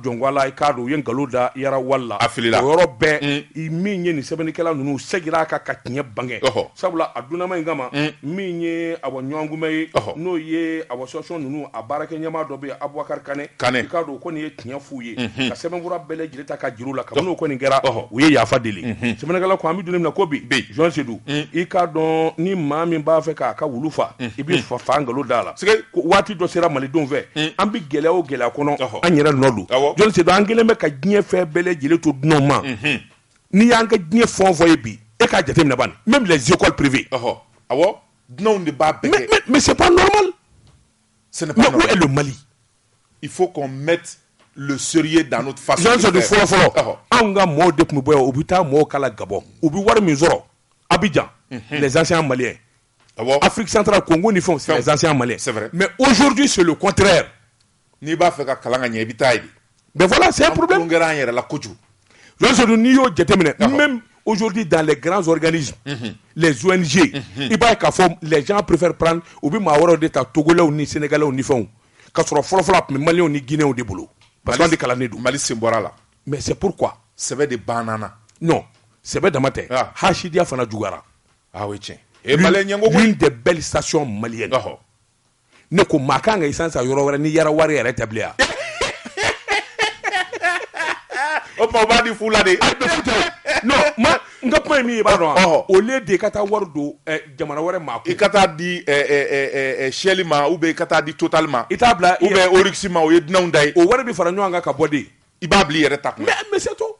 jɔnla i k'a u ye nkalon da yalala a fili yɔrɔ bɛɛ min ye nin sɛbɛnnikɛla ninnu seginna aa kan ka tiɲɛ bange Sabula a dunanma in kama min ye awɔ ɲɔgɔnkunbɛn ye n'o ye awɔ station ninnu a baarakɛ ɲɛmaa dɔ bɛ Abubakari Kane i k'a dɔn o kɔni ye tiɲɛ f'u ye ka sɛbɛnfura bɛɛ lajɛlen ta k'a jira u la kabini o kɔni kɛra u ye yafa deli sɛbɛnnikɛla ko an bɛ don min na ko bi John Seydou i k'a dɔn ni maa min b'a fɛ k'a ka wulu faa i bɛ fa fa nkalon d'a la waati dɔ sera malidenw fɛ an bɛ gɛlɛya o gɛlɛya kɔnɔ an yɛrɛ nɔ don John Seydou an kɛlen bɛ ka diɲɛ fɛn bɛɛ lajɛlen to dunanw ma n'i y'an ka diɲɛ fɛn o fɛn ye bi e k'a jateminɛ bani même les écoles privées ɔhɔ awɔ dunanw de b'a bɛɛ kɛ mais c'est pas normal ce n'est pas normal mais où est le Mali il faut qu'on mette le sérieux dans notre façon de faire fɔlɔ fɔlɔ anw ka mɔɔw de tun bɛ bɔ yan u bɛ taa mɔɔw kalan Gabon u bɛ wari min sɔrɔ Abidjan mhm. les anciens maliens Afrique centrale Congo ni fɛnw c'est les anciens maliens mais aujourd'hui c'est le contraire N'i b'a fɛ ka kalan ka ɲɛ i bɛ taa yen de mais voilà c'est un problème an kɛra an yɛrɛ la kojugu John Seydou n'i y'o jateminɛ même aujourd'hui dans les grands organismes mhm. les ONG mhm. i b'a ye k'a fɔ les gens préfèrent prendre u bɛ maa wɛrɛw de ta togolɛw ni sénégalais ni fɛnw k'a sɔrɔ fɔlɔfɔlɔ a tun bɛ maliyɛnw ni guinéens de bolo parce que an de kalannen don Mali sen bɔra la mais c'est pourquoi sɛbɛ de banna non sɛbɛ dama tɛ ah. hasidiya fana juguyara ah oui tiɲɛ et maliyɛn ɲɛngo l'une des belles stations maliennes ne ko maa kan ka essence san yɔrɔ wɛrɛ ni Yara wari yɛrɛ tɛ bilen o tuma o b'a di fu la de non mais n ka kuma ye min ye i b'a dɔn wa au lieu de ka taa wari don eh, jamana wɛrɛ maa kun i ka taa di eh, eh, Shell ma ou bien i ka taa di Total ma i t'a bila ou bien Oryx ma o ye dunanw ta ye o wari bi fara ɲɔgɔn kan ka bɔ de i b'a bila i yɛrɛ ta kun mais c'est tout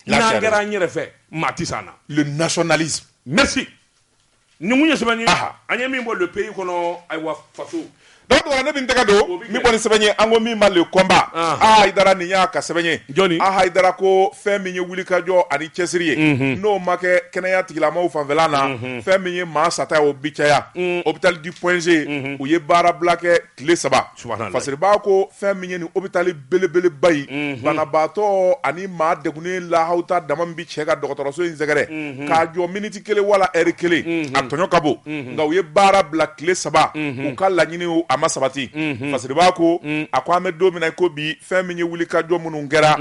N'an kɛra an yɛrɛ fɛ maa tɛ se an na. Le nationalisme. Merci nin tun ye sɛbɛn ye, aha, an ye min bɔ Le Pays kɔnɔ, ayiwa faso. Donc tumadɔla ne bɛ n tɛgɛ don, o bɛ kɛ, min bɔ ni sɛbɛn ye, an ko min ma Le Combat, anhan, A Hayidara nin y'a ka sɛbɛn ye, jɔni? A Hayidara ko fɛn min ye wulikajɔ ani cɛsiri ye, unhun, n'o ma kɛ kɛnɛya tigilamɔgɔw fanfɛla na, unhun, fɛn min ye maa sata ye o bɛ caya, un, hôpital du Point G, unhun, u ye baarabila kɛ tile saba. Fasiriba ko fɛn min ye nin hôpital belebeleba in banabaatɔ ani maa degunnen lahawuta dama min bɛ cɛ ka dɔgɔtɔrɔso in sɛgɛrɛ k'a jɔ miniti kelen wala ɛri kelen a tɔɲɔ ka bon nka u ye baara bila tile saba u ka laɲini a ma sabati Fasiriba ko a ko an bɛ don min na ko bi fɛn min ye wulikajɔ minnu kɛra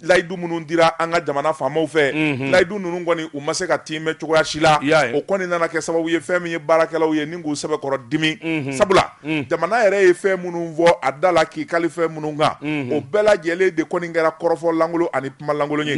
layidu minnu dira an ka jamana faamaw fɛ layidu ninnu kɔni u ma se ka tiimɛ cogoya si la o kɔni nana kɛ sababu ye fɛn min ye baarakɛlaw ye ni k'u sɛbɛkɔrɔ dimi sabula jamana yɛrɛ ye fɛn minnu fɔ a da la k'i kali fɛn minnu kan o bɛɛ lajɛlen de kɔni kɛra kɔrɔfɔ lankolon ani kuma lankolon ye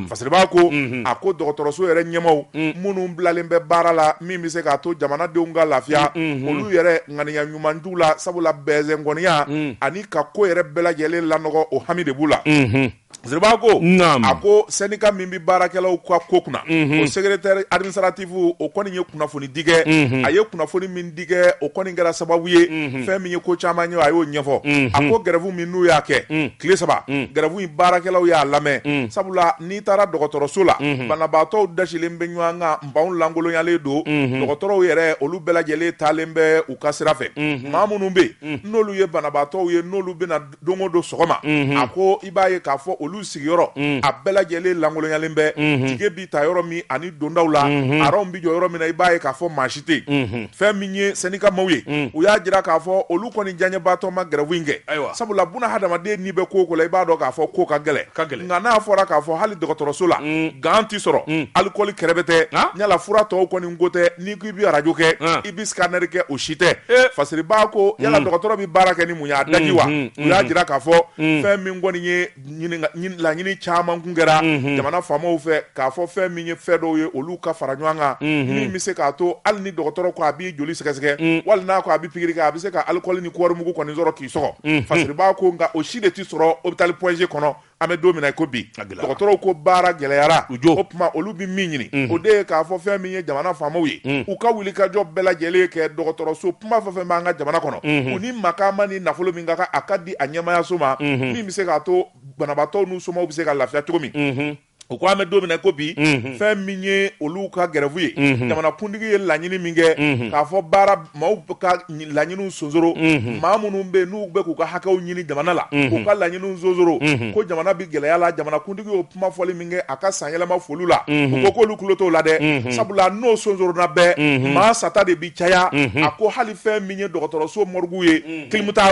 Fasiriba ko a ko dɔgɔtɔrɔso yɛrɛ ɲɛmaw minnu bilalen bɛ baara la min bɛ se k'a to jamanadenw ka lafiya olu yɛrɛ ŋaniya ɲuman t'u la sabula bɛɛnsɛnkɔniya mm. ani ka ko yɛrɛ bɛɛ lajɛlen lanɔgɔ o hami de b'u la mm-hmm. Fasiriba ko a ko syndicat min bɛ baarakɛlaw ka ko kunna mm-hmm. o secrétaire administratif o kɔni ye kunnafoni di kɛ mm-hmm. a ye kunnafoni min di kɛ o kɔni kɛra sababu ye fɛn min ye ko caman ye a y'o ɲɛfɔ a ko gɛrɛfu min n'u y'a kɛ mm. tile saba mm. gɛrɛfu in baarakɛlaw y'a lamɛn sabula n'i taara dɔgɔtɔrɔso la banabaatɔw dasilen bɛ ɲɔgɔn kan banw lankolonyalen don dɔgɔtɔrɔw yɛrɛ olu bɛɛ lajɛlen taalen bɛ u ka sira fɛ maa minnu bɛ yen n'olu ye banabaatɔw ye n'olu bɛ na don o don sɔgɔma a ko i b'a ye k'a fɔ olu sigiyɔrɔ a bɛɛ lajɛlen lankolonyalen bɛ tikɛ bi ta yɔrɔ min ani dondaw la aran bɛ jɔ yɔrɔ min na i b'a ye k'a fɔ maa si tɛ fɛn min ye syndicat maaw ye mm. u y'a jira k'a fɔ olu kɔni diyaɲɛbaatɔ ma gɛrɛwu in kɛ ayiwa sabula buna hadamaden n'i bɛ ko o ko la i b'a dɔn k'a fɔ ko ka gɛlɛn ka gɛlɛn nka n'a fɔra k'a fɔ hali dɔgɔtɔrɔso la mm. gan tɛ sɔrɔ mm. alikɔli kɛrɛbɛ tɛ ah? yala fura tɔw kɔni ko tɛ n'i ko i bɛ arajo kɛ ah. i bɛ sikanɛri kɛ o si tɛ eh. Fasiriba ko yala dɔgɔtɔrɔ bɛ baara kɛ ni mun ye a daji wa u y'a jira k'a fɔ fɛn min kɔni ye laɲini caman kun kɛra jamana faamaw fɛ k'a fɔ fɛn min ye fɛn dɔw ye olu ka fara ɲɔgɔn kan min bɛ se k'a to hali ni dɔgɔtɔrɔ ko a b'i joli sɛgɛsɛgɛ wali n'a ko a bɛ pikiri kɛ a bɛ se ka alikɔli ni kɔɔrimugu kɔni sɔrɔ k'i sɔgɔ Fasiriba ko nka o si de tɛ sɔrɔ hôpital Point G kɔnɔ an bɛ don min na ko bi dɔgɔtɔrɔw ko baara gɛlɛyara u jɔ o tuma olu bɛ min ɲini o de ye k'a fɔ fɛn min ye jamana faamaw ye u ka wulikajɔ bɛɛ lajɛlen kɛ dɔgɔtɔrɔso kuma fɛn fɛn b'an ka jamana kɔnɔ u ni makan ma ni nafolo min ka kan a ka di a ɲɛmaayaso ma min bɛ se k'a to banabaatɔw n'u somaw bɛ se ka lafiya cogo min u ko an bɛ don min na ko bi fɛn min ye olu ka gɛrɛfu ye jamanakuntigi ye laɲini min kɛ k'a fɔ baara maaw ka laɲiniw sonsoro maa minnu bɛ n'u bɛ k'u ka hakɛw ɲini jamana la u ka laɲiniw sonsoro ko jamana bɛ gɛlɛya la jamanakuntigi kuma fɔli min kɛ a ka san yɛlɛma foli la u ko k'olu tulo t'o la dɛ sabula n'o sonsoronna bɛɛ maa sata de bi caya a ko hali fɛn min ye dɔgɔtɔrɔso morgue ye kilimu t'a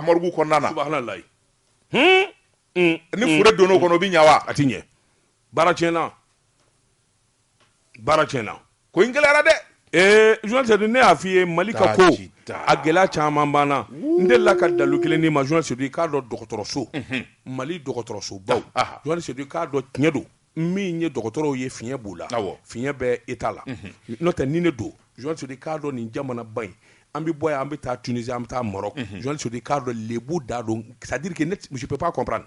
morgue kɔnɔna na ni fure donn'o kɔnɔ o bɛ ɲɛ wa a tɛ ɲɛ baara tiɲɛna baara tiɲɛna ko in gɛlɛyara dɛ ee journaliste ne y'a f'i ye Mali ka ko a gɛlɛya caman b'an na n delila ka dalu kelen d'i ma journaliste i k'a dɔn dɔgɔtɔrɔso Mali dɔgɔtɔrɔsobaw journaliste i k'a dɔn tiɲɛ don min ye dɔgɔtɔrɔw ye fiɲɛ b'u la fiɲɛ bɛ État la n'o tɛ ni ne don journaliste i k'a dɔn nin jamanaba in an bɛ bɔ yan an bɛ taa Tunisie an bɛ taa Maroc journaliste i k'a dɔn lebu da don c'est à dire que ne je peux pas comprendre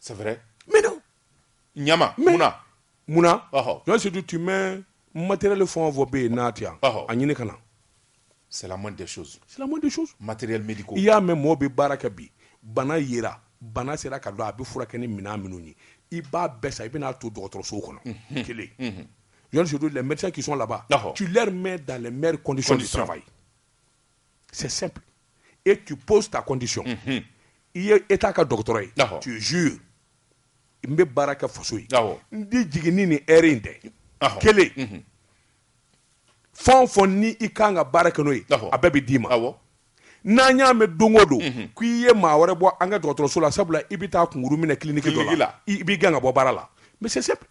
sɛɛrɛ ɲama munna munnasidu tun bɛ matɛrɛli fɔ fɔ bɛ yen n'a tɛ yan a ɲini ka na silamɛma matɛrɛli i y'a mɛn mɔgɔ bɛ baara kɛ bi bana yi bana sera ka don a bɛ furakɛ kɛ ni minɛn minnu ye i ba bɛɛ sa i bɛna'a to dɔgɔtɔrɔso kɔnɔ kelensidu la mɛ ki laban mɛ dan mri kɔndisɔn saba ye c'est simple et tu poses ta condition mhm. i ye état ka dɔgɔtɔrɔ ye tu jure n bɛ baara kɛ faso ye n di jiginni ni heure in tɛ kelen mhm. fɛn o fɛn ni i kan ka baara kɛ n'o ye a bɛɛ bɛ d'i ma n'an y'a mɛn don o don mhm. ko i ye maa wɛrɛ bɔ an ka dɔgɔtɔrɔso la sabula i bɛ taa kunkuru minɛ kiliniki dɔ la i bɛ gɛn ka bɔ baara la mais c'est simple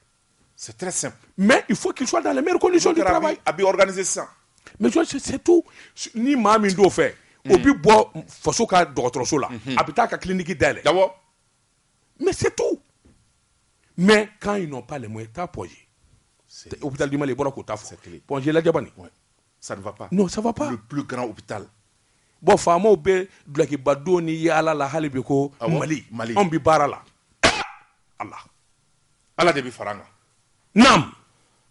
C'est très simple. Mais il faut qu'il soit dans les meilleures conditions de travail. A bi organiser ça. Mais c'est tout. Ni maa min t'o fɛ, o bi bɔ faso ka dɔgɔtɔrɔso la, mhm. a bɛ taa ka clinique dayɛlɛ. Awɔ. Mais c'est tout. Mais quand ils n'ont pas les moyens, t'as Point G. Hôpital du Mali, bɔra k'u ta fɔ. Point G la jabani. Ça ne va pas. Non, ça va pas. Le plus grand hôpital. Bon, faamaw bɛ dulokiba don ni yaala la hali bi ko Mali. Mali. Anw bi baara la. Allah. Ala de bɛ fara an kan naam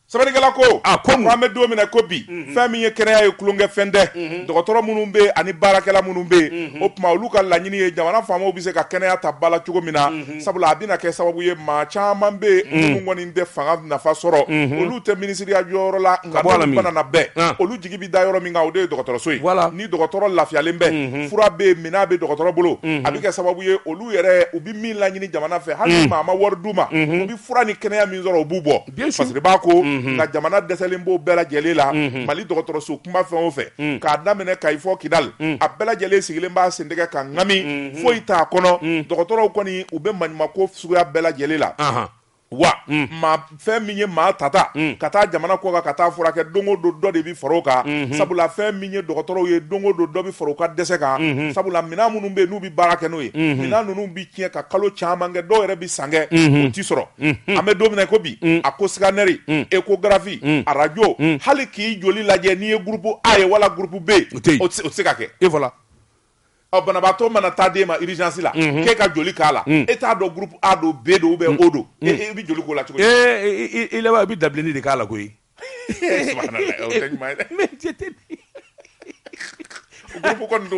sɛbɛnnikɛla ko a ko an bɛ don min na ko bi mhm. fɛn min ye kɛnɛya ye tulonkɛ fɛn tɛ mhm. dɔgɔtɔrɔ minnu bɛ ani baarakɛla minnu bɛ mhm. o tuma olu ka laɲini ye jamana faamaw bɛ se ka kɛnɛya ta ba la cogo min na sabula a bɛna kɛ sababu ye maa caman bɛ minnu kɔni tɛ fanga nafa sɔrɔ olu tɛ minisiriya jɔyɔrɔ la nka banana bɛɛ ah. olu jigi bɛ da yɔrɔ min kan o de ye dɔgɔtɔrɔso ye ni dɔgɔtɔrɔ lafiyalen bɛ fura bɛ minɛn bɛ dɔgɔtɔrɔ bolo a bɛ kɛ sababu ye olu yɛrɛ min laɲini jamana fɛ hali mm. maa ma wari d'u ma mm-hmm. u bɛ fura ni kɛnɛya min sɔrɔ u b'u bɔ parce que b'a ko mm-hmm. nka jamana dɛsɛlen b'o bɛɛ lajɛlen la mm-hmm. mali dɔgɔtɔrɔso kunba fɛn o fɛn mm. k'a daminɛ kayi fɔ kidali mm. a bɛɛ lajɛlen sigilen b'a sen tɛgɛ ka ŋami foyi t'a kɔnɔ dɔgɔtɔrɔw kɔni u bɛ maɲumako suguya bɛɛ lajɛlen la wa fɛn min ye maa tata ka taa jamana kɔ kan ka taa furakɛ don o don dɔ de bɛ fara o kan sabula fɛn min ye dɔgɔtɔrɔw ye don o don dɔ bɛ fara u ka dɛsɛ kan sabula minɛn minnu bɛ n'u bɛ baara kɛ n'o ye minɛn ninnu bɛ tiɲɛ ka kalo caman kɛ dɔw yɛrɛ bɛ san kɛ u tɛ sɔrɔ an bɛ don min na ko bi a ko scanner échographie arajo hali k'i joli lajɛ n'i ye groupe a ye wala groupe b o tɛ se ka kɛ e banabaatɔ mana taa den ma irizsi la k'e ka joli k'a la e t'a dɔn gp a don bɛɛ don bɛ o don i bɛ joli ko la cogo i laban i bɛ dabili ni de k'a la koyi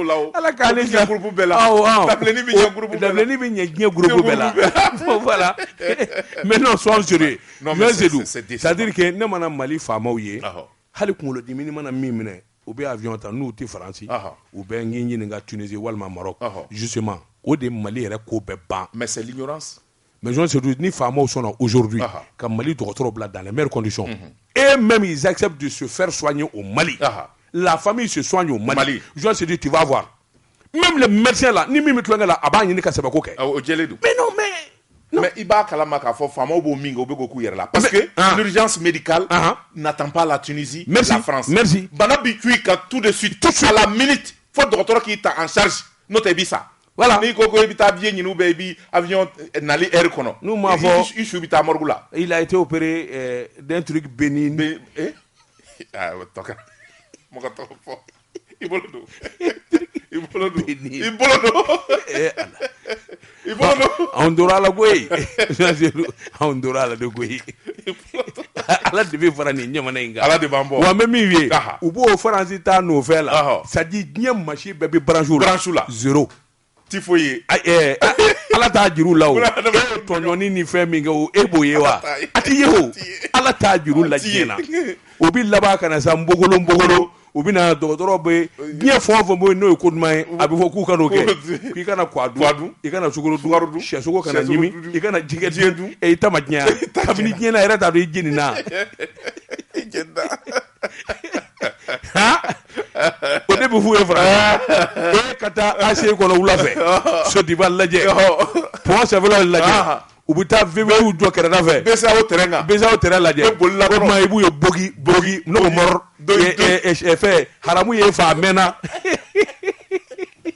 la ala k' gp bɛɛ la bɛ ɲɛ diɲɛ la la mɛ n'o sɔn sri sadike ne mana mali faamaw ye hali kunkolokolodi mana min minɛ U bɛ avion ta n'u tɛ Faransi, ɔhɔ, u bɛ n k'i ɲininka Tunisie walima Maroc, ɔhɔ, justement o de Mali yɛrɛ ko bɛ ban, mais c'est l'ignorance, mais Jean Siriki ni faamaw sɔnna aujourd'hui ka Mali dɔgɔtɔrɔw bila dans les meilleures conditions, unhun, et même ils acceptent de se faire soigner au Mali, ɔhɔ, la famille se soigne au Mali, Jean Siriki tu vas voir même le médecin là ni min bɛ tulonkɛ la a b'a ɲini ka sɛbɛko kɛ. Awɔ o jɛlen don. Mais non mais non. Mais i b'a kalama k'a fɔ faamaw b'o min kɛ u bɛ k'o k'u yɛrɛ la. Parce que ah. l'urgence médicale ah. n'attend pas la Tunisie, Merci. la France. Merci. Bana b'i cun i kan tout de suite, tout à la minute fo dɔgɔtɔrɔ k'i ta en charge n'o tɛ i bɛ sa. Voilà. N'i ko ko i bɛ taa billet ɲini ou bien i bɛ avion eh, nali heure kɔnɔ. N'u m'a fɔ i su bɛ taa morgue la. Il a été opéré euh, d'un truc bénin. Bé eh? ah, tɔkɛ mɔgɔ tɔgɔ fɔ. i bolo don i bolo don i bolo don eh, i bolo don anw tora ala koyi anw tora ala de koyi ala de bɛ fara nin ɲamana in kan ala de b'an bɔ wa an bɛ min ye u b'o faransi ta nɔfɛ la c'est à dire diɲɛ machine bɛɛ bɛ branche la zero tɛ foyi ye Ayi, ɛɛ, a- a- ala t'a juru la o Buna hadamaden e ye tɔɲɔni ni fɛn min kɛ o e b'o ye wa t'a ye. a t'i ye o A t'i ye. ala t'a juru la A t'i ye. diɲɛ na o bɛ laban ka na sa npogolo npogolo u bɛ na dɔgɔtɔrɔ bɛ diɲɛ fɛn o fɛn bɛ yen n'o ye ko duman ye a bɛ fɔ k'u kan'o kɛ k'i kana kwa Kwa dun dun. i kana sukaro dun Sukaro dun. sɛsogo kana Sɛsogo ɲimi dun. i kana jɛgɛ Jɛgɛ dun dun. ɛ i ta ma diɲɛ kabini diɲɛ na yɛrɛ t'a dɔn i jeni na Jɛnda. o de bɛ f'u ye fara e ka taa aci kɔnɔ wula fɛ sodiba lajɛ sɛbɛnfila lajɛ u bɛ taa v8 jɔ kɛrɛda fɛ bcao terrain lajɛ o tuma i b'u ye bogi bogi n'o mɔrɔ fɛ haramu ye fa mɛnna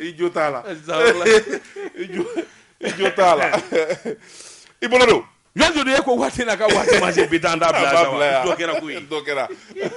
i jo t'a la i jo i jo t'a la i bolo don yanni e ko waati na ka waati ma se bi taa an da bila sa wa dɔ kɛra koyi dɔ kɛra